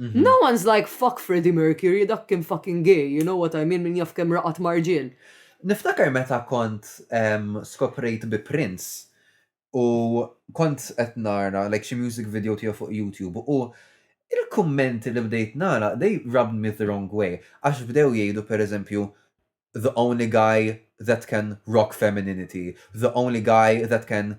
Mhm. No one's like fuck Freddie Mercury, dak kien fucking gay, you know what I mean, min jaf kem raqat marġil. Niftakar meta kont skoprejt bi Prince u kont qed nara like xi music video tiegħu fuq YouTube u il-kummenti li bdejt nara they rubbed me the wrong way għax bdew jgħidu pereżempju the only guy that can rock femininity, the only guy that can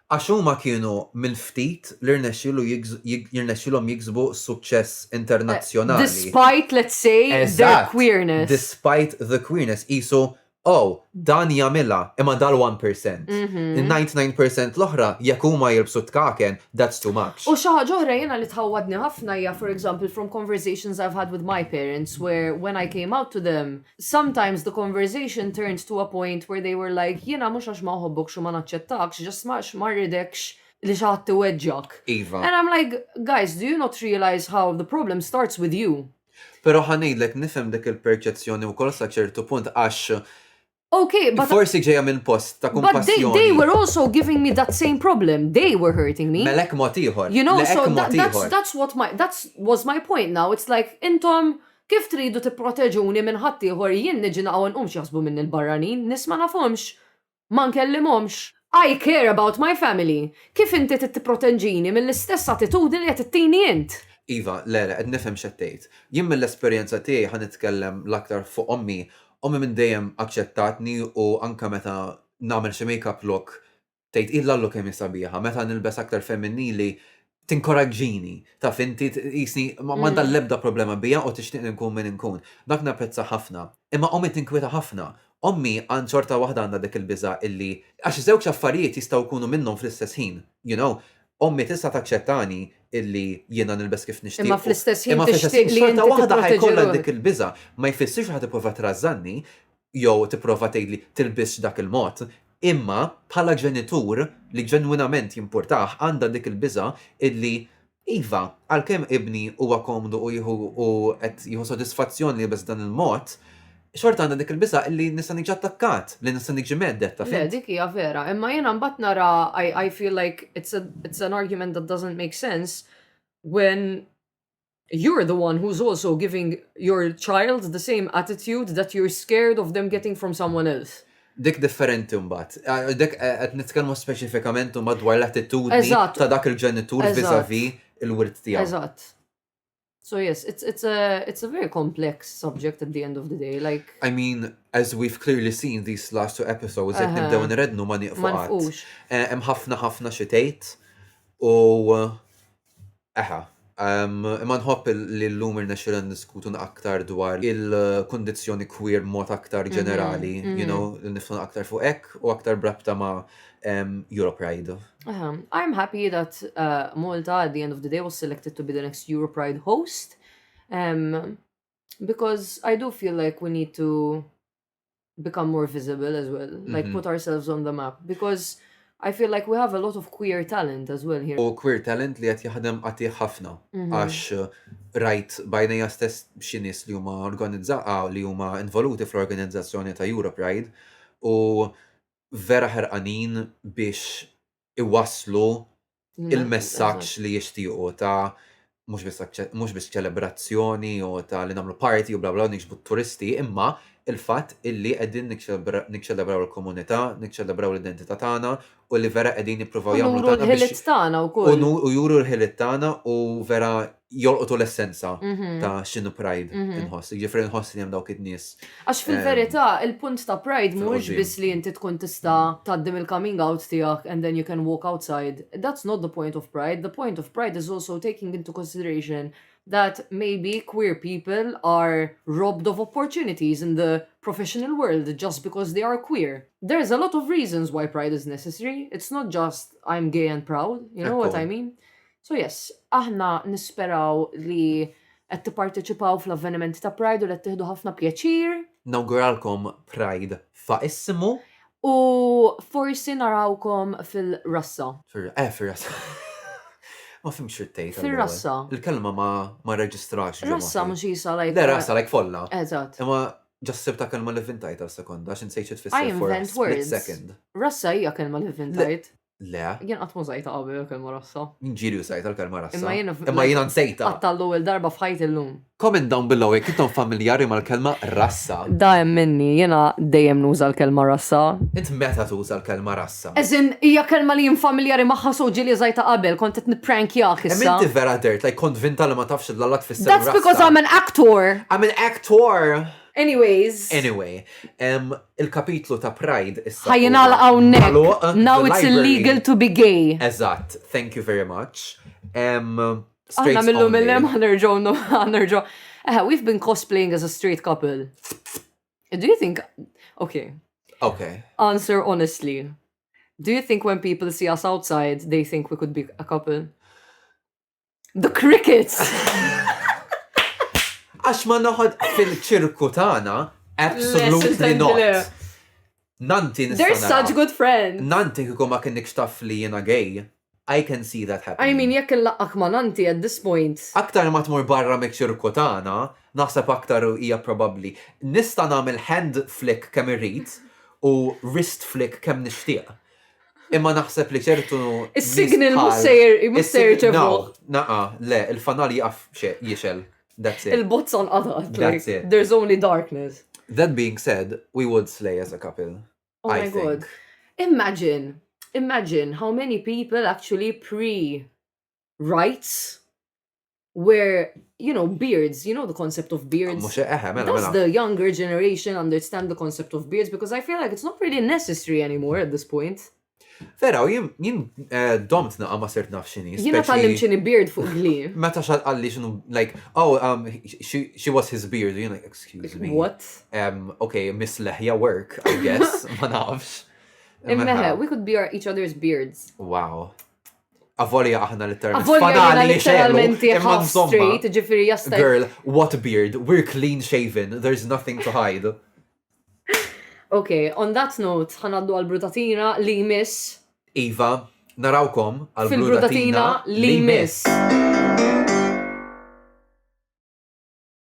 Għax huma kienu mill-ftit li rnexxielu jirnexxielhom jiksbu suċċess internazzjonali. Despite, let's say, their queerness. Eżatt, despite the queerness. Qisu, oh, dan jagħmilha, imma dal-one percent. In-ninety nine percent l-oħra, jekk huma jilbsu t-tkaken, that's too much. U xi ħaġa oħra jiena li tħawwadni ħafna hija, for example, from conversations I've had with my parents where when I came out to them, Sometimes the conversation turned to a point where they were like, jiena mhux għax ma nħobbokx u ma naċċettakx, just għax ma rridekx li xi ħadd iweġġgħek. Iva. And I'm like, guys, do you not realize how the problem starts with you? Però ħa ngħidlek nifhem dik il-perċezzjoni wkoll sa ċertu punt għax Okay, but Forsi ġejja minn post ta' but they, kumpassjoni. they were also giving me that same problem. They were hurting me. Melek mod ieħor. You know, Leqek so mod that, that's ieħor. that's what my that's was my point now. It's like intom Kif tridu tipproteġuni minn ħaddieħor jien niġi naqgħu nqum x'jaħsbu minni l-barranin, nies ma nafhomx? Ma nkellimhomx? I care about my family! Kif inti trid tipprotenġini mill-istess attitudni li qed ittini int? Iva, le, le, qed nifhem x'qed tgħid. Jien mill-esperjenza tiegħi ħa nitkellem l-aktar fuq ommi, ommi minn dejjem aċċettatni u anke meta nagħmel xi make-up look Tgħid hi l-allu kemm hi sabiħa, meta nilbes aktar feminnili tinkoraġġini, taf inti jisni ma għandha mm. l-ebda problema bija u tixtieq li nkun min inkun. Dak napprezza ħafna. Imma ommi tinkwita ħafna. Ommi għand xorta waħda għandha dik il-biża illi għax żewġ affarijiet jistgħu jkunu minnhom fl-istess ħin, you know. Ommi tista' taċċettani illi jiena nilbes kif nixtieq. Imma fl-istess ħin imma fl-istess ħin xorta waħda ħajkollha dik il-biża ma jfissirx ħad tipprova trażżanni, jew tipprova tgħidli tilbisx dak il-mod, imma bħala ġenitur li ġenwinament jimpurtah għandha dik il-biża' illi iva, għalkemm ibni huwa komdu u jieħu u qed jieħu sodisfazzjon li jilbes b'dan il-mod, xorta għandha dik il-biża' illi nista' niġi attakkat, li nista' niġi mhedded, taf int. Le, dik hija vera, imma jiena mbagħad nara, I feel like it's an argument that doesn't make sense when You're the one who's also giving your child the same attitude that you're scared of them getting from someone else. Dik differenti mbagħad. Eh, dik eh, qed nitkellmu speċifikament mbagħad dwar l-attitudni ta' dak il-ġenitur viżavi il-wirt tiegħu. Eżatt. So yes, it's it's a it's a very complex subject at the end of the day. Like I mean, as we've clearly seen these last two episodes, qed nibdew nrednu ma nieqfu qatt. Eh, hemm ħafna ħafna xi tgħid u Eħe. Imma nħobb li llum irnexxielna niddiskutu aktar dwar il-kundizzjoni queer b'mod aktar ġenerali, you know, li niftħu aktar fuq hekk u aktar b'rabta ma' Europride. Eħe. I am happy that Malta at the end of the day was selected to be the next Europride host because I do feel like we need to become more visible as well, mm -hmm. like mhm. put ourselves on the map, because I feel like we have a lot of queer talent as well here. U queer talent li għat jaħdem għati ħafna, mhm. għax uh, rajt bajnija stess xinis li huma organizzaqa ah, li huma involuti fl-organizzazzjoni ta' Europe Ride u vera ħerqanin biex iwaslu il-messaġġ li jixtiequ ta' mhux biss aċċe- mhux biss ċelebrazzjoni u ta' li nagħmlu party u bla bla nixbu t-turisti, imma il-fatt illi qegħdin niċċelebra- niċċelebraw il-komunità, niċċelebraw l-identità tagħna u li vera qegħdin jippruvaw U jagħmlu nuru tagħna biex l-ħiliet tagħna u wkoll. nu- u juru l-ħiliet tagħna u vera jolqotu l-essenza mhm. ta' xinu pride mhm. inħoss. Ġifri nħoss li jem dawk id-nis. Għax ehm, fil-verita, il-punt ta' pride mux bis li jinti tkun tista taddim il-coming out tijak and then you can walk outside. That's not the point of pride. The point of pride is also taking into consideration that maybe queer people are robbed of opportunities in the professional world just because they are queer. There's a lot of reasons why pride is necessary. It's not just I'm gay and proud, you know what I mean? So yes, aħna nisperaw li qed tipparteċipaw fl-avvenimenti ta' Pride u li qed tieħdu ħafna pjaċir. Nawguralkom Pride faqissimu. U forsi narawkom fil-rassa. Eh, fil-rassa. Ma fimx xittejt. Fil-rassa. Il-kelma ma reġistrax. Rassa mux jisa lajk. Le, rassa lajk folla. Eżat. Imma ġassib ta' kelma li vintajt għal sekonda, xin sejċi tfisser for a split second. Rassa hija kelma li vintajt. Le. Jien qatt ma żajta qabel il-kelma rassa. Min ġieli użajt il-kelma rassa. Imma jiena Imma jiena nsejta. Qatta l-ewwel darba f'ħajt illum. Comment down below jekk intom familjari mal-kelma rassa. Da hemm minni, jiena dejjem nuża l-kelma rassa. Int meta tuża l-kelma rassa? As in, hija kelma li jien familjari magħha so ġieli użajta qabel, kont qed nipprankjah issa. Imma inti vera dirt like konvinta li ma tafx li l-alla tfisser rassa. That's because I'm an actor. I'm an actor! Anyways. Anyway, Il-kapitlu ta' Pride issa. Ħa jingħalaq hawnhekk. Now it's illegal to be gay. Eżatt, thank you very much. Aħna millum mill-lem ħanerġgħu ħanerġgħu. Eh, we've been cosplaying as a straight couple. Do you think Okay. Okay. Answer honestly. Do you think when people see us outside, they think we could be a couple? The crickets! Għax ma noħod fil-ċirku tagħna, absolutely not. Nanti nista' They're such good friends. Nanti kiku ma kienx taf li jiena gay. I can see that happen. I mean, jekk il-laqqak ma nanti at this point. Aktar ma tmur barra me ċirku tagħna, naħseb aktar hija probabbli. Nista' nagħmel hand flick kemm irrid u wrist flick kemm nixtieq. Imma naħseb li ċertu. Is-signal mhux sejjer mhux sejjer ċevu. Naqa, le, il-fanal jaf jixel. That's it. Il-bozza nqatat. That's it. There's only darkness. That being said, we would slay as a couple. Oh I my think. god. Imagine, imagine how many people actually pre rights where, you know, beards, you know the concept of beards. Mux eħe, mela, Does mela. the younger generation understand the concept of beards? Because I feel like it's not really necessary anymore at this point. Vera, u jien- jien eh, domt naqa ma sirt naf xini. Jina speċi- tal-lim xini beard fuq gli. Meta xal għalli xinu, like, oh, um, she, she was his beard, you know, like, excuse me. What? Um, okay, Miss Lehja work, I guess, ma nafx. Immeħe, Mela, we could be our, each other's beards. Wow. Avolja aħna literalment. Avolja aħna literalment imma street, ġifiri jasta. Girl, what beard? We're clean shaven, there's nothing to hide. Ok, on that note, ħanaddu għal-brutatina li miss. Iva, narawkom għal-brutatina li miss.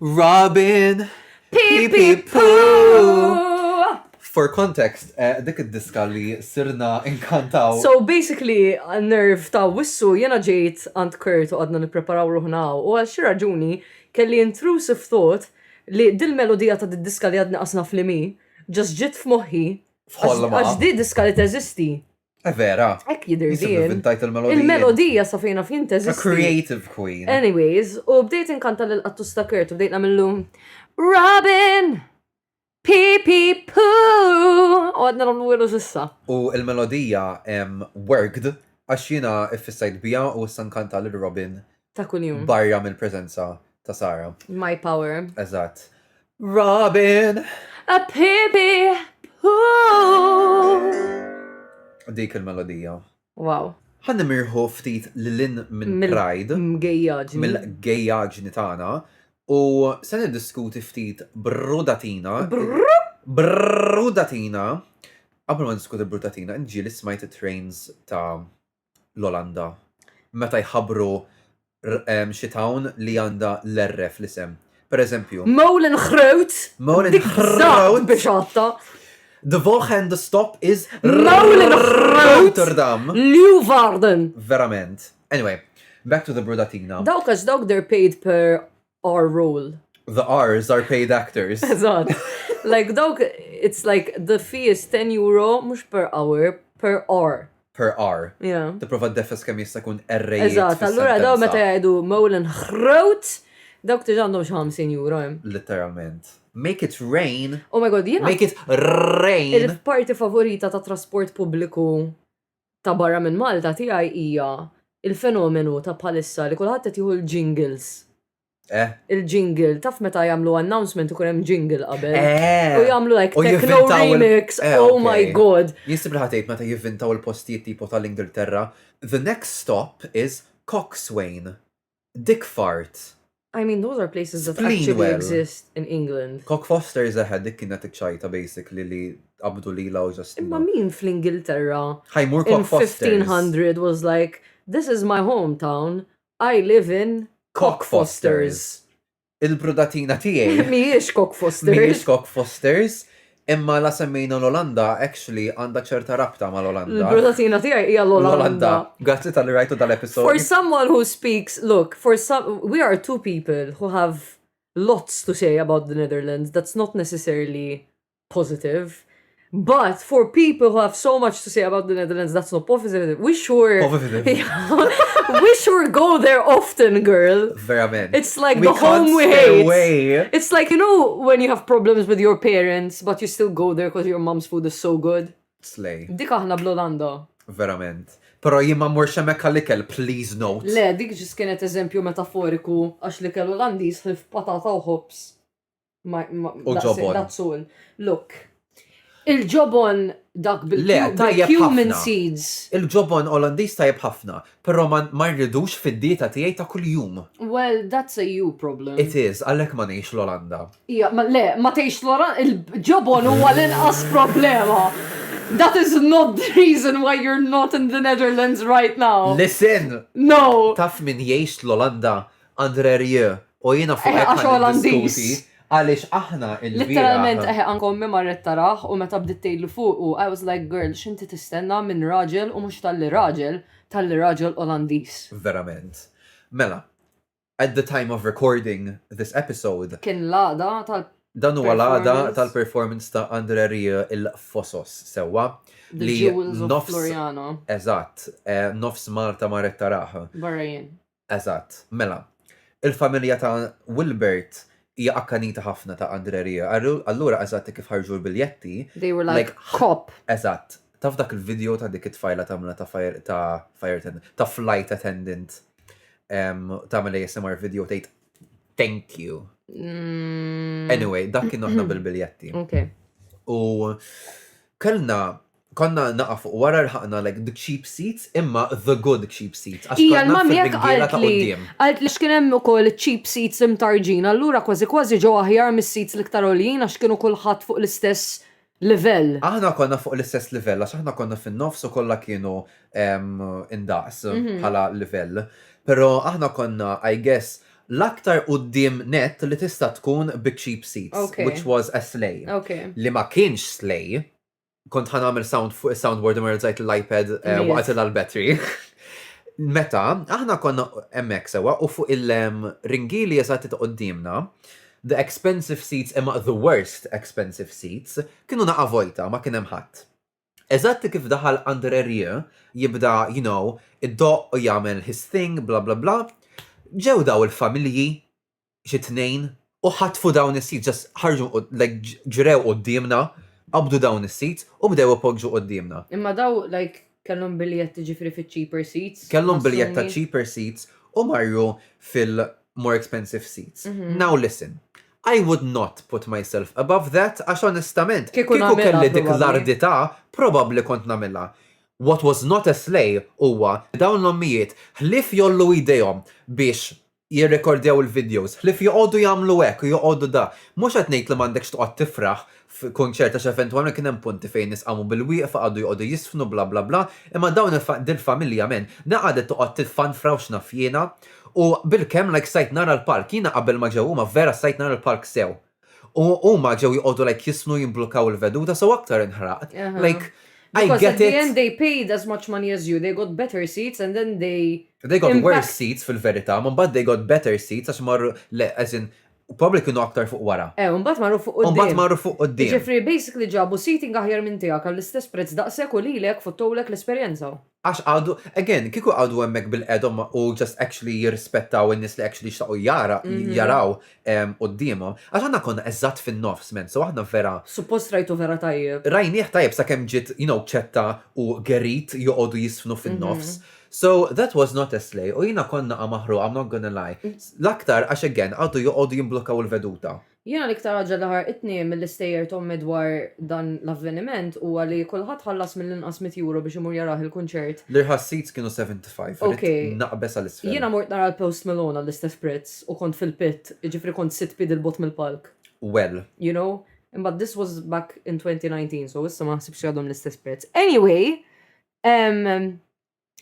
Robin! Pipi For context, eh, dik id-diska li sirna inkantaw. So basically, nerv ta' wissu jena ġejt għand Kurt u għadna nipreparaw ruħna u għal xi raġuni kelli intrusive thought li dil-melodija ta' did-diska li għadna qasna fl-imi ġas ġit f'moħħi. F'ħolma. Għax di diska li teżisti. Eh, vera. Ek jidir Nisib din. inventajt il-melodija. Il-melodija sa fejna fien A teżisti. creative queen. Anyways, u bdejt inkanta lil qattus ta' Kurt u bdejt namillu Robin! Pi pi pu! U għadna namlu għilu sissa. U il-melodija em, worked għax jiena iffissajt bija u issa nkanta lil Robin Ta' kuljum. Barra mill-preżenza ta' Sara. My power. Eżatt. Robin! A baby! Dik il-melodija. Wow. Ħan nimirħu ftit lilin minn Pride. Mill-gejjaġni. Mill-gejjaġni tagħna. U se niddiskuti ftit brudatina. Brudatina. Qabel ma niskuti brudatina, ġieli smajt it-trains ta' l-Olanda meta jħabbru xi town li għandha l-R fl-isem. Per eżempju. Molengroot! Molengroot! Biex għatta! The Volgen the stop is Rotterdam. Leeuwarden. Verament. Anyway, back to the Brudatina. Dawk għax dawk they're paid per our role. The R's are paid actors. Eżatt. Like dawk, it's like the fee is 10 euro, mux per hour, per hour. Per hour. Yeah. Tipprova ddefes kemm jista' jkun errejt. Eżatt, allura daw meta jgħidu Molan ħrot, dawk tiġ għandhom xi 50 euro hemm. Literalment. Make it rain. Oh my god, jiena. Make it rain. Il-parti favorita ta' trasport pubbliku ta' barra minn Malta tiegħi hija il-fenomenu ta' bħalissa li kulħadd qed jieħu l-jingles. Eh? Il-jingle, taf meta jagħmlu announcement ikun hemm jingle qabel. Eh. U jagħmlu like techno remix, eh, oh my god. Jisib ħatejt meta jivvintaw il-postijiet tipo tal-Ingilterra. The next stop is Coxswain. Dick Fart. I mean those are places that actually exist in England. Cock Foster zeħed dik kienet iċċajta basically li qabdu li law ġast. Imma min fl-Ingilterra? Ħajmur Cock Foster. 1500 was like, this is my hometown, I live in Cock Fosters. Il-brudatina tiegħi. Mhijiex Cock Fosters. Mhijiex Cock Fosters. Imma la semmejna l-Olanda, actually, għandha ċerta rabta ma l-Olanda. Il-brudatina tiegħi hija l-Olanda. Grazzi tal-li rajtu dal-episod. For someone who speaks, look, for some, we are two people who have lots to say about the Netherlands. That's not necessarily positive. But for people who have so much to say about the Netherlands, that's not positive. We sure, we sure go there often, girl. Verament. It's like we the home we hate. Away. It's like you know when you have problems with your parents, but you still go there because your mom's food is so good. Slay. Dik aħna bl-Olanda. Verament. Pero jimma mur xemek għal-ikel, please note. Le, dik ġis kienet eżempju metaforiku għax li kellu l-għandis patata u hops. U ġobon. Dazzun. Look. Il-ġobon dak bil-cumin seeds. Il-ġobon Olandiż tajjeb ħafna, però ma rridux fid-dieta tiegħi ta' kuljum. Well, that's a you problem. It is, għalhekk ma ngħix l-Olanda. Ija, le, ma tgħix l-Olanda, il-ġobon huwa l-inqas problema. That is not the reason why you're not in the Netherlands right now. Listen! No! Taf min jgħix l-Olanda Andre Rieu, u jiena fuq hekk ħaddiskuti għaliex aħna il-bieraħ. Litteralment eħe anke ommi marret taraħ u meta bdiet tgħidlu fuqu I was like girl x'inti tistenna minn raġel u mhux talli raġel, talli raġel Olandiż. Verament. Mela, at the time of recording this episode. Kien l-għada tal Dan huwa l-għada tal-performance ta' Andre Rieu il-Fosos sewwa li nofs Floriano. Eżatt, eh, nofs Malta marret taraħ. Barrajin. Eżatt. Mela, il-familja ta' Wilbert hija akkanita ħafna ta' Andrè Rieu. Allura eżatt hekk kif ħarġu l-biljetti. They were like cop. Eżatt. Taf dak il-video ta' dik it-tfajla tagħmilha ta' fire ta' fire attendant, ta' flight attendant tagħmel ASMR video tgħid thank you. Anyway, dak kien aħna bil-biljetti. Okay. U kellna Konna naqa' fuq wara rħaqna like the cheap seats imma the good cheap seats għax Hija konna l-mummy hekk fir-ringiela ta' qaltli. quddiem. Qaltli għax kien hemm ukoll iċ-cheap seats imtarġin allura kważi kważi ġew aħjar mis-seats l-iktar għoljin għax kienu kulħadd fuq l-istess livell. Aħna konna fuq l-istess livell għax aħna konna fin-nofs u kollha kienu ehm indaqs bħala livell. Però aħna konna I guess l-aktar quddiem nett li tista' tkun biċ-cheap seats Ok. which was a slay. Ok. Li ma kienx slay kont ħan għamil sound fuq il-soundboard u merżajt l-iPad eh, waqt l-battery. Meta, aħna konna emmek sewa u fuq il-ringili eżat t-qoddimna, the expensive seats imma the worst expensive seats kienu naqa vojta ma kienem ħadd. Eżatt kif daħal under area jibda, you know, id-doq u jagħmel his thing, bla bla bla. Ġew daw il-familji xi tnejn u ħatfu dawn is-seats, just ħarġu like ġrew quddiemna, qabdu dawn is-seats u bdew ipoġġu quddiemna. Imma daw like kellhom biljett jiġifieri fiċ-cheaper seats? Kellhom biljett ta' cheaper seats u marru fil-more expensive seats. Now listen, I would not put myself above that għax onestament kieku kelli dik l-ardità probabbli kont nagħmilha. What was not a slay huwa li dawn l-ommijiet ħlief jgħollu idejhom biex jirrekordjaw il-videos, ħlief joqogħdu jagħmlu hekk u joqogħdu dak. Mhux qed ngħid li m'għandekx toqgħod tifraħ f'kunċert għax eventwalment kien hemm punti fejn nies qamu bil-wieqfa, qagħdu joqogħdu jiżfnu bla bla bla, imma dawn il-fa, dil-familja men, na qagħdet toqgħod tiffanfra u x'naf jiena. U bilkemm like stajt nara l-palk, jiena qabel ma ġew huma vera stajt nara l-palk sew. U huma ġew joqogħdu like jisnu jimblukkaw il-veduta so aktar inħraqt. Like I get it. Because at the end they paid as much money as you, they got better seats and then they They got worse seats fil-verità, ma mbagħad they got better seats għax marru le as in probabbly kienu aktar fuq wara. Eh, u mbagħad marru fuq quddiem. U mbagħad marru fuq quddiem. Jiġifieri basically ġabu seating aħjar minn tiegħek għall-istess prezz daqshekk u lilek fottowlek l-esperjenza. Għax għadu, again, kieku għadu hemmhekk bil-qedhom u just actually jirrispettaw in-nies li actually jixtaqu jara, mhm. jaraw ehm, quddiemhom. Għax aħna konna eżatt fin-nofs men, so aħna vera. Suppost rajtu vera tajjeb. Rajnieh tajjeb sakemm ġiet, you know, ċetta u gerit joqogħdu jisfnu fin-nofs. Mhm. So that was not a slay, u jina konna għamahru, I'm not gonna lie. Mm. L-aktar, għax again, għadu joqogħdu jimblokkaw il-veduta. Jiena l-iktar ħaġa li ħarqitni mill-istejjer t'ommi dwar dan l-avveniment huwa li kulħadd ħallas mill-inqas mitt Euro biex imur jarah il-kunċert. L-irħas seats kienu 75, ridt naqbeż għal isfel. Jiena mort nara l Post Malone għall-istess prezz u kont fil-pit, jiġifieri kont sitt piedi 'l bogħod mill-palk. Well. You know? Imbagħad this was back in 2019 so issa ma naħsibx li għadhom l-istess prezz. Anyway, ehm.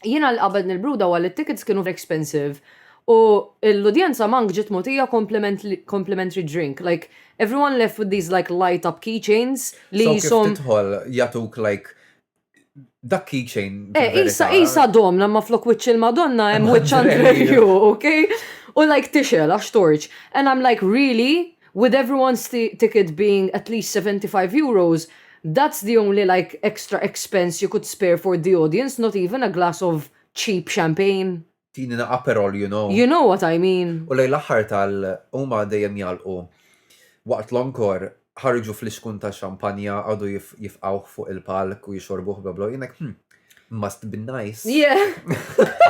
Jiena li qabad nil-bruda huwa li t-tickets kienu expensive u l-udjenza mank ġiet mogħtija complimentary drink. Like, everyone left with these like light up key chains li qishom. So kif tidħol jagħtuk like dak key chain. Eh, qisha qisha domna ma flok wiċċ il-Madonna hemm wiċċ Andrelju, okay? U like tixel għax torċ. And I'm like, really? With everyone's ticket being at least 75 euros, that's the only like extra expense you could spare for the audience, not even a glass of cheap champagne. Tini na Aperol, you know. You know what I mean. U lejn l-aħħar tal huma dejjem jagħlqu. Waqt l-encore, ħarġu fliskun ta' xampanja, qagħdu jifqgħuh fuq il-palk u jixorbuh bla bla u jien hekk, hm, must be nice. Yeah.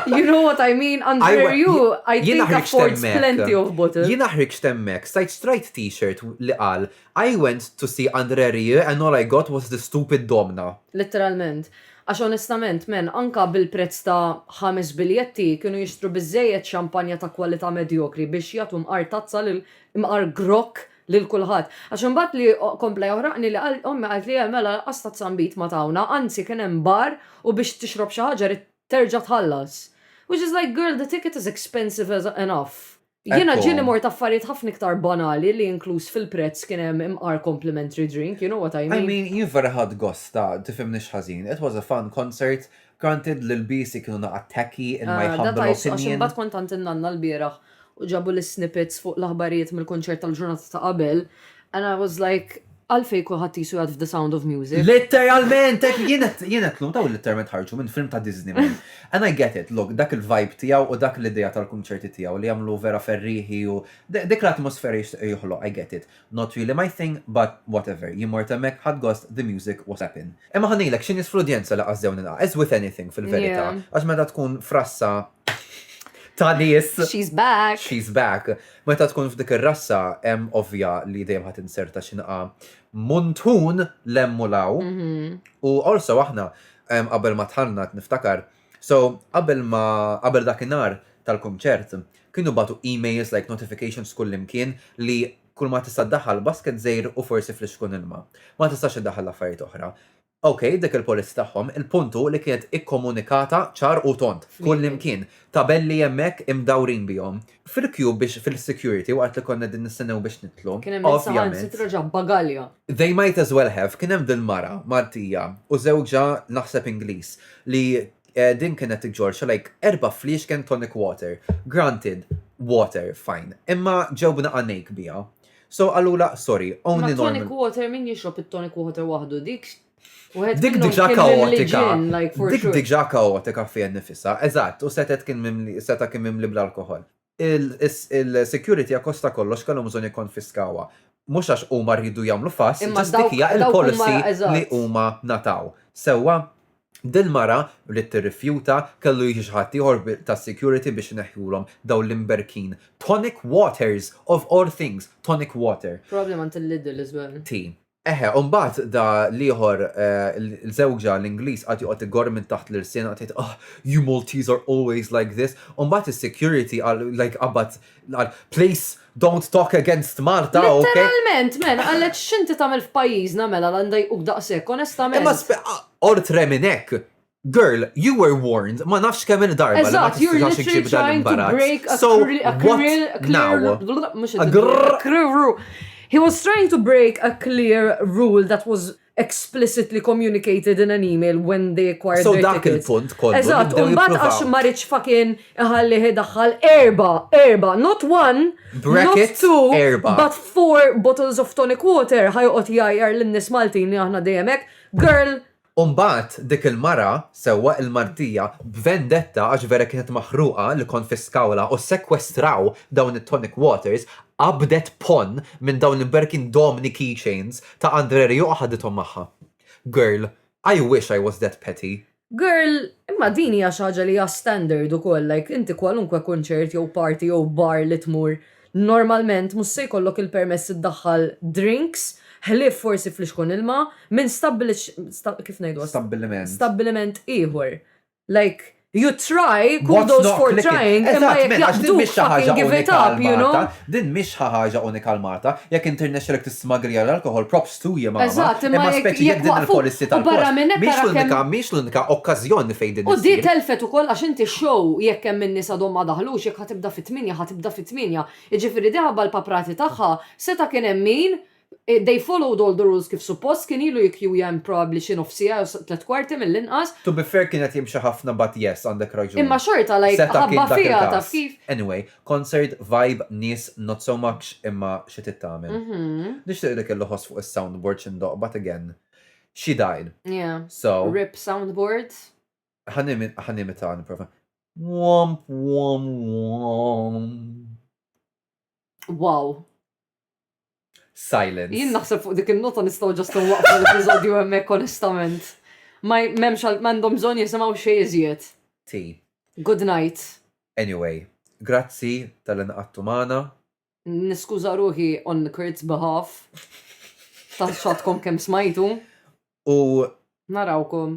you know what I mean? Under I, you, I think affords plenty of bottles. Jien aħriġ temmek, sajt strajt t-shirt li qal, I went to see Andre Rie and all I got was the stupid domna. Literalment. Għax onestament, men, anka bil-prezz ta' ħames biljetti kienu jixtru bizzejet xampanja ta' kwalità medjokri biex jatum mqar tazza l mqar grok lil kulħadd. Għax imbagħad li kompla joħraqni li qal, ommi qaltli le mela lanqas tazzambit ma tawna, anzi kien hemm bar u biex tixrob xi ħaġa ridt terġa' tħallas. Which is like, girl the ticket is expensive enough. Jiena ġieli mort affarijiet ħafna iktar banali li inkluż fil-prezz kien hemm imqar complimentary drink, you know what I mean. I mean, jien vera ħadt gost ta', tifhimnix ħażin, it was a fun concert Granted li lbiesi kienu naqgħad tacky in my humble opinion. That I saw, għax imbagħad kont għand in-nanna lbieraħ u ġabu l-snippets fuq l-aħbarijiet mill-kunċert tal-ġurnata ta' qabel and I was like, għalfejn kulħadd qisu jgħad f'The Sound of Music? Litteralment! Jien qed nlum, dawn litteralment ħarġu minn film ta' Disney man. And I get it, look, dak il-vibe tiegħu u dak l-idea tal-kunċerti tiegħu li jagħmlu vera ferrieħi u dik l-atmosfera jixtieq joħloq, I get it. Not really my thing but whatever, jien mort hemmhekk ħadt gost the music was slappin. Imma ħa ngħidlek xi nies fl-udjenza li qasdew nilqa', as with anything fil-verità, għax meta tkun frassa ta' nies. She's back. She's back. Meta tkun f'dik ir-rassa hemm ovvja li dejjem ħadd inserta xi nqa' muntun lemmu law. Mhm. U also aħna qabel ma tħallna niftakar So, qabel ma, qabel dak in-nhar tal-kunċert, kienu bagħtu emails like notifications kullimkien li kulma tista' ddaħħal basket żgħir u forsi flixkun ilma. Ma tistax iddaħħal affarijiet oħra. Ok, dik il-policy tagħhom, il-punt hu li kienet ikkomunikata ċar u tond, kullimkien. Tabelli hemmhekk imdawrin bihom. fil-queue biex fil-security waqt li konna din nistennew biex nidħlu. Kien hemm saħansitra ġab bagalja. They might as well have, kien hemm dil-mara Maltija u żewġha naħseb Ingliż li din kienet iġġorr xi like erba' fliexken tonic water. Granted, water, fine. Imma ġew b'naqa' ngħejk biha. So qalulha, sorry, only normal. Ma tonic water min jixrob it-tonic water waħdu dik Dik diġa kaotika. Dik diġa kaotika fija nifisa. Eżatt, u setet kien mimli, seta kien mimli bl-alkohol. Il-security akkosta kollox kellhom bżonn jikkonfiskawha. Mhux għax huma rridu jagħmlu fass, imma dik hija l-policy li huma ngħataw. Sewwa? Dil-mara bdiet tirrifjuta, kellu jiġi xi ħadd ieħor tas-security biex ineħħulhom dawn l-imberkin. Tonic waters, of all things, tonic water. Probably mant il-Lidl as well. Ti. Eħe, u mbagħad da l-ieħor, l-żewġa, l-Ingliż qagħad joqgħod igorr minn taħt l-irsien, qagħad jgħid, Ugh, you Maltese are always like this. U mbagħad is-security qal, like, qabad, qal, Please, don't talk against Malta, ok? Litteralment, man, qallet x'inti tagħmel f'pajjiżna mela la ndajquk daqshekk, onestament. Imma spe- a- oltre minn hekk, Girl, you were warned ma nafx kemm il-darba li ma tistax iġib dan l-imbarazz. So, what now? He was trying to break a clear rule that was explicitly communicated in an email when they acquired so their tickets. So dak il-punt kollu. Eżatt, un bat għax marriċ fakin iħalli daħħal erba, erba, not one, Bracket, not two, erba. but four bottles of tonic water ħajqot jajjar l-nis Maltin li aħna dejemek. Girl, U mbagħad dik il-mara, sewwa, il-Martija, b'vendetta għax vera kienet maħruqa li konfiskawlha u ssekwestraw dawn it-tonic waters, qabdet ponn minn dawn l-imberkin domni keychains ta' Andre Rieu u ħadithom magħha. Girl, I wish I was that petty. Girl, imma din hija xi ħaġa li hija standard ukoll, like inti kwalunkwe kunċert jew party jew bar li tmur, Normalment mhux se jkollok il-permess iddaħħal drinks, ħlief forsi flixkun ilma, minn kif ngħiduha? Stabbiliment. Stabbiliment ieħor. Like, you try, kudos for trying, imma jekk jaqbduk fucking give it up, you know? Din mhix xi ħaġa unika għal Malta. Jekk inti rnexxielek tismagglija l-alkoħol, props. Stu je mama, Eżatt, imma imma jekk- speċi jekk jekk din waqfu- il-policy u tal-post barra minn hekk mhix ara kemm- l-unika mhix l-unika okkażjoni li fejn din U di issir. telfet ukoll għax inti x-show jekk hemm in-nies għadhom ma daħlux jekk ħa tibda fit-tmienja ħa tibda fit-tmienja. Jiġifieri di ħabba l-paprati tagħha seta' kien hemm min they followed all the rules kif suppost kien ilu jikkjuja hemm probably xi nofs siegħa jew s- tliet kwarti mill-inqas. To be fair kien qed jimxi ħafna but yes għandek raġun. Imma xorta like Seta' kien ħabba dak fiha taf il-każ. kif? Anyway, B'concert vibe nies not so much imma xi trid tagħmel. Nixtieq li kellu ħoss fuq is-soundboard xi ndoqq but again she died. Yeah. So. Rip soundboard. Ħa nimita nipprova. Womp womp womp. Wow. Silence. Jien naħseb fuq dik in-nota nistgħu ġast nwaqfu l-episodju hemmhekk onestament. Ma m'hemmx għal m'għandhom bżonn jisimgħu xejn iżjed. Ti. Good night. Anyway, grazzi tal-li nqagħdtu magħna. Niskuża ruħi on Kurt's behalf ta' x'għadkom kemm smajtu. U Narawkom.